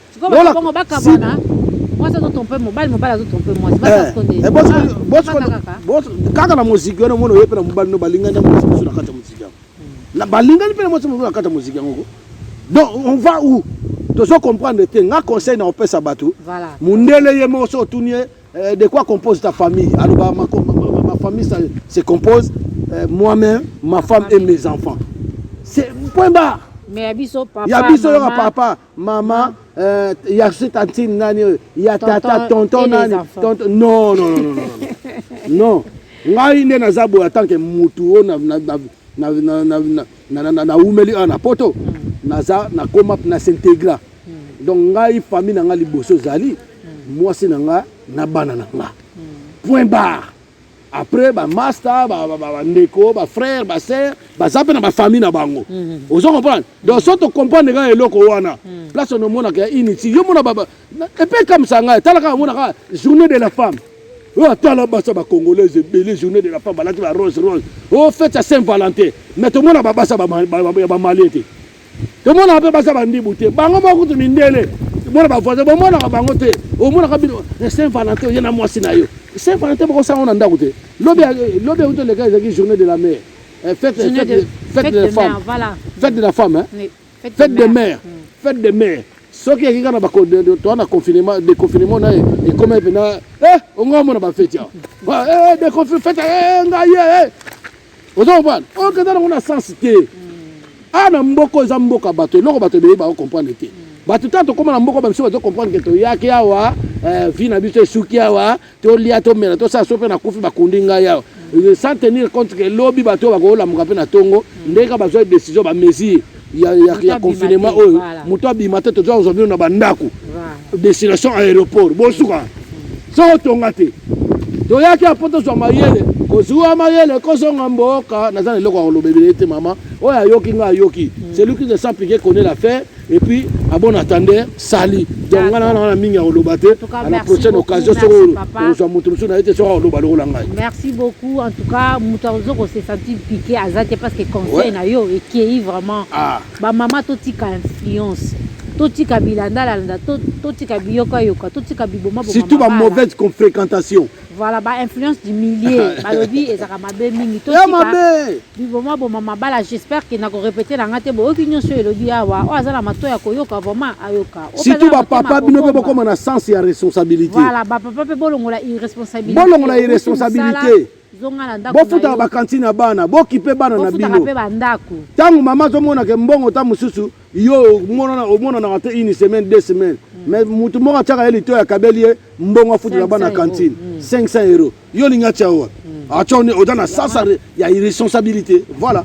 S1: kaka na moziki wana omona oye mpe na mobali no balingani na mwasi mosusu na kati ya moziki yango na balingani mpe na mwasi mobali bakata moziki yango ko donc on va où tozo comprendre te nga conseil na opesa bato voilà. mundele ye moko so otuni ye eh, de quoi compose ta famille aloba ma, ma, ma, ma famille ça, se compose eh, moi-même ma femme et mes enfants c'est point barre mais ya biso papa
S2: ya biso yoka papa
S1: Mama euh, ya si tantine nani oyo ya tata tonton nani tonton non non non non non ngai nde naza boye atanke mutu oyo naumeli awa na poto naza nakoma na s'integra hmm. donc ngai famille na ngai liboso ezali hmm. mwasi na ngai na bana na ngai hmm. point barre après ba masta ba ba ba ndeko ba frère ba sœur baza pe na ba famille na bango mhm. ozo comprendre donc so to comprendre ka eloko wana mhm. place on mona ka initi yo mona ba et puis comme ça ngai tala ka mona ka journée de la femme oyo atala basa bacongolaise ebele journée de la femme balati ba rose rose o oh, fete ya saint valentin mais tomona babasa ya bamalien te tomonaka mpe baza bandibu te bango moko kutu mindele mona bavoisin bomonaka bango te omonaka bino eh, saint valentin oye na mwasi na yo saint valentin bokosala ngo na ndako te lobi euti oleka ezalaki journée de la mare eh, fête de la femme fête de la
S2: femme
S1: fête de mare fête de mare soki ekika na toa na confinement déconfinement na ye ekoma epena ongo amona bafeti awa fete ngai oza comprendre oyo kenda nango na sens te a na mboko eza mboka bato eloko bato ebele bao comprendre te bato ntango tokóma na mboka bamiso bazo comprendre ke toyaki awa eh, vi na biso esuki awa tolia tomela tosala so mpe nakufi bakundi ngai awa sans tenir compte ke lobi bato oyo bakolamuka mpe na ntongo ndenge kaka bazwa décision bamesure ya, ya, ya confinement oyo moto abima te toza kozwa bino na bandako destination aéroport bosuka soko tonga te toyaki apo tozwa mayele kozwa mayele kozonga mboka naza na eloko ya koloba ebele te mama oyo ayoki ngai ayoki hmm. celui qui ne sent piquer connaît la fin et puis abon attendeur sali donc nga nanga na mingi ya koloba te à la prochaine occasion soki ozwa moto mosusu na ye te soki akoloba lokola ngai merci beaucoup en tout cas moto azo kosesanti pike aza te parce que conseil na yo ekei vraiment ah. bamama totika influence totika bilandalanda totika biyokayoka totika biboma surtout ba mauvaise confréquentation Voilà ba influence du milieu balobi ezaka mabe mingi to tika mabe biboma boma mabala j'espère que nako répéter na ngate bo oki nyoso elobi awa o azala mato ya koyoka vraiment ayoka surtout ba papa bino pe bokoma na sens ya responsabilité voilà ba papa pe bolongola irresponsabilité bolongola irresponsabilité zonga na ndako bofutaka bakantine ya bana bokipe bana na bino ntango mama azomonaka mbongo ta mosusu yo omonanaka te une semaine deux semaine mm. mais motu moko atiaka ye lito ya kabeli ye mbongo afutela bana cantine 500 mm. euro yo olingi atia yo wapi mm. atia ah, oza na sasa ya irresponsabilité voilà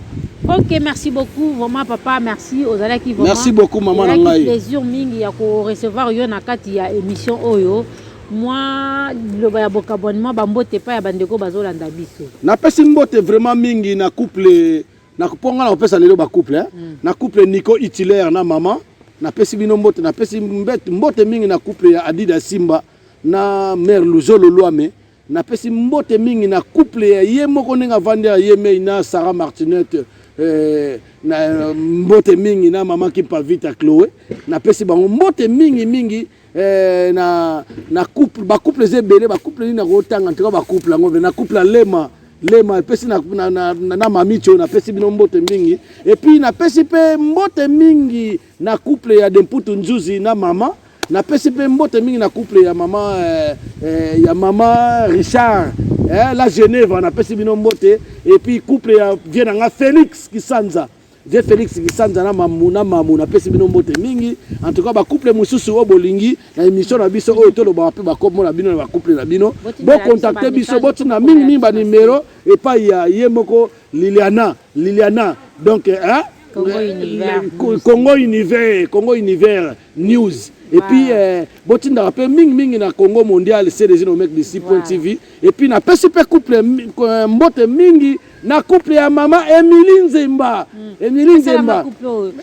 S1: ok merci beaucoup vraiment papa merci ozalaki merci beaucoup mama na ngai plaisir mingi ya korecevoir yo na kati ya émission oyo mwa liloba ya bokabwanement bambote epai ya bandeko bazolanda biso napesi mbote vraiment mingi na couple na mpo ngai nakopesa lelo bacouple eh? mm. na couple nico utilaire na mama napesi bino mbote napesi mbote mingi na couple ya adida simba na mare luzolo lwame napesi mbote mingi na couple ya ye moko ndenge avandi ya ye mei na sarah martinette eh, na mbote mingi na mama kimpa vita chloe napesi bango mbote mingi mingi eh, na na couple ba couple eza ebele ba couple nini nakotanga ntika ba couple yango na couple ya lema lema epesi na, na, na, na, na mamicho napesi bino mbote mingi epuis napesi mpe mbote mingi na couple ya demputu nzuzi na mama napesi mpe mbote mingi na couple ya mama eh, eh, ya mama richard eh, la genève napesi bino mbote epuis couple ya vie na nga félix kisanza Je Felix Kisanza na mamu na mamu napesi bino mbote mingi en tout cas ba couple mosusu oyo bolingi na émission na biso oyo tolobaka mpe bakombo na bino na ba couple na bino bocontacte biso botina mingi mingi banimero epai ya ye moko Liliana Liliana donc hein? Congo Univers Congo Univers Congo Univers News et puis euh, botindaka mpe mingi mingi na Congo mondial cdg nomec dc point tv et puis napesi mpe couple euh, mbote mingi na couple ya mama Emilie Nzemba mm. Emilie Nzemba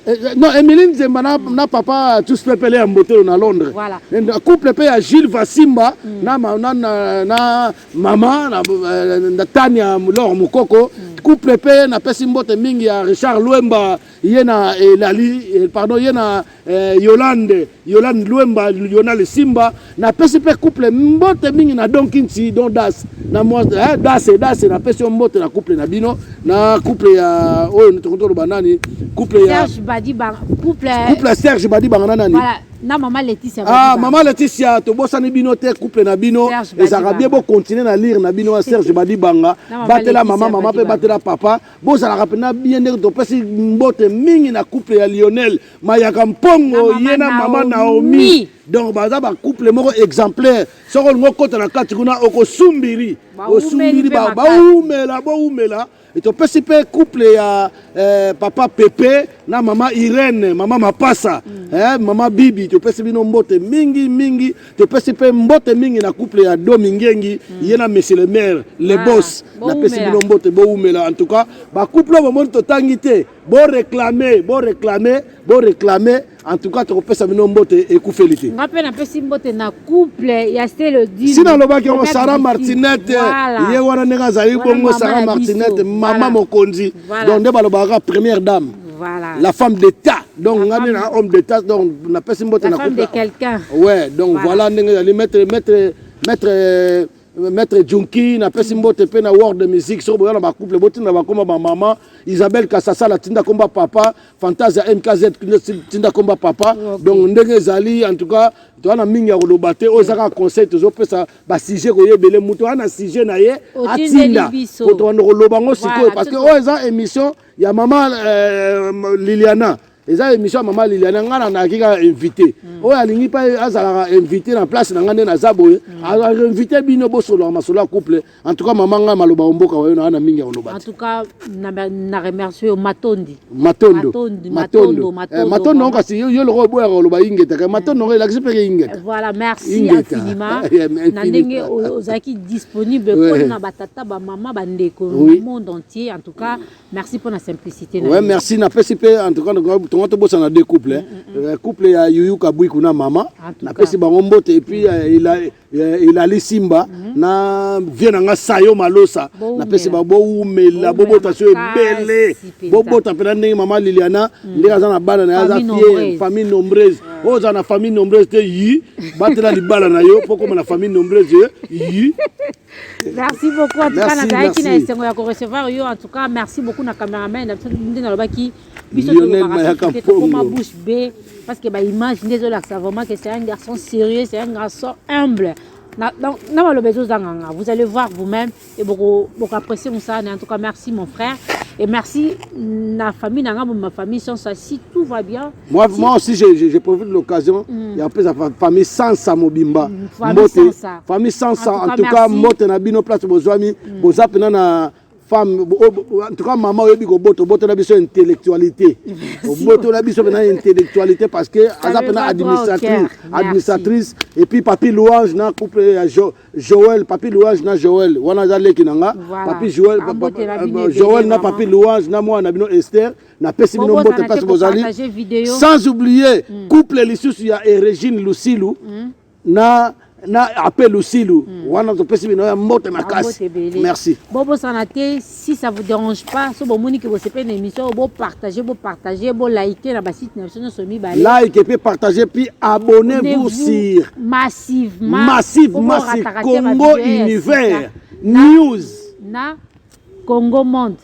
S1: eh, eh, non Emilie Nzemba na, mm. na papa tous pepele ya mbotelo na Londres voilà. na couple pe ya Gilles Vasimba mm. na, na, na, na mama na, eh, na Tania Lor Mukoko mm. couple pe napesi mbote mingi ya Richard Luemba ye na elali pardon ye na Eh, Yolande Yolande Luemba Lionel Simba na pesi pe couple mbote mingi na Don Kinti Don Das na moi eh, Das et Das na pesi mbote na couple na bino na couple ya oyo oh, tokoto loba nani couple ya Serge Badi ba couple couple Serge Badi banga nani voilà na mama Laetitia ah mama Laetitia tobosani bino te couple na bino ezaka bien bo continuer na lire na bino ya Serge Badi banga batela mama mama pe batela papa bozalaka mpena bien ndenge topesi mbote mingi na couple ya lionel mayaka mpongo ye na mama naomi donc baza bacouple moko exemplaire soki olingi okota na kati kuna okosumbiri osumbiri bawumela bowumela topesi mpe couple ya eh, papa pepe na mama irene mama mapasa mm. eh, mama bibi topesi bino mbote mingi mingi topesi mpe mbote mingi na couple ya domi ngengi mm. ye na monsieur le maire le ah, bos napesi bino mbote bowumela en tout cas bacouple oyo bomoni totangi te boreklame boreklame boreklame en tout cas tokopesa bino mbote ekufeli te nga mpe napesi mbote na couple ya selodisi nalobaki yango sara martinete voilà. ye wana ndenge azali bongo sara martinete mama voilà. mokonzi voilà. donc nde balobaka première dame Voilà. La femme d'État. Donc, on a un homme d'État, donc on a personne La femme de quelqu'un. Ouais, donc voilà, on voilà, les maître, maître, maître, euh, maître Junki, na pesi mbote pe na world music, so boya na ba couple, boti na ba koma ba maman, Isabelle Kassasa la tinda komba papa, Fantasia MKZ tinda komba papa. Okay. Donc ndenge ezali en tout cas, to wana mingi ya koloba te, oyo ezaka conseil tozo pesa ba sujet ko yebele muto wana sujet na ye atinda. Ko to wana koloba ngo sikoyo parce que oyo eza émission ya mama euh, Liliana eza émission ya mama Liliana ngai na nayaki kaka invité mm. oyo alingi mpe azalaka invité na place na ngai nde naza boye mm. ainvité bino bosolaka masolo ya couple en tout cas mama ngai maloba omboka wayo na wana mingi ya koloba en tout cas
S2: na remercie yo matondi matondo matondo matondo
S1: eh, matondo ngo kasi yo loko oboyaka koloba ingeta ka matondo ngo elakisi mpe ke ingeta voilà merci infiniment
S2: eh, na ndenge ozalaki disponible mpo na batata bamama bandeko monde entier cas, merci pour la simplicité. Ouais, merci. Na pesi
S1: pe en tout cas donc tonga to bossa na deux couples. Hein. Mm, mm, mm. Euh, couple ya Yuyu Kabui kuna mama. Na pesi bango mbote et puis euh, il a euh, il a Simba mm-hmm. na vieux nanga Sayo Malosa. Na pesi ba bo umela bo bota so ebele. Bo bota pe na ndenge mama Liliana ndenge aza na bana na aza fière famille nombreuse. Oyo za na famille nombreuse te yi batela libala na yo poko na famille nombreuse yi Merci
S2: beaucoup. En tout cas, nazalaki na esengo ya ko recevoir yo. En tout cas, merci beaucoup na cameraman na biso nde nalobaki biso tokoma bouche bee parce que baimage nde ezolakisa vraiment que c'est un garçon sérieux, c'est un garçon humble. Na, donc, na maloba ezozanganga. Vous allez voir vous-même et beaucoup, beaucoup apprécier Moussa. En tout cas, merci mon frère. Et merci na famille, na ma famille, sans ça, si tout va bien. Moi, moi aussi, je, je, je
S1: profite de l'occasion mm. ya kopesa famille sansa mobimba mm, mbote famille sansa en tout cas mbote na bino place bozwami mm. boza mpena na femme en tout cas mama oyebi kobota obotola biso intellectualité obotola biso mpena intellectualité parce que aza mpena administratrice administratrice et puis papi louange na couple ya joel papi louange na joel wana aza leki na nga papi joel euh, joel na papi louange na mwana na bino esther mm. napesi bino mbote mpasi bozali sans oublier mm. couple lisusu ya eregine lusilu mm. na na ape lusilu mm. wana topesi bino ya mbote makasi merci bobosana te
S2: si ça vous dérange pas so bomoni ke bosepeli na émission oyo bopartage bopartage bolike na basite na biso nyonso mibale like epe partage
S1: puis abonne vous sur massive
S2: massive massive
S1: congo univers news na
S2: congo monde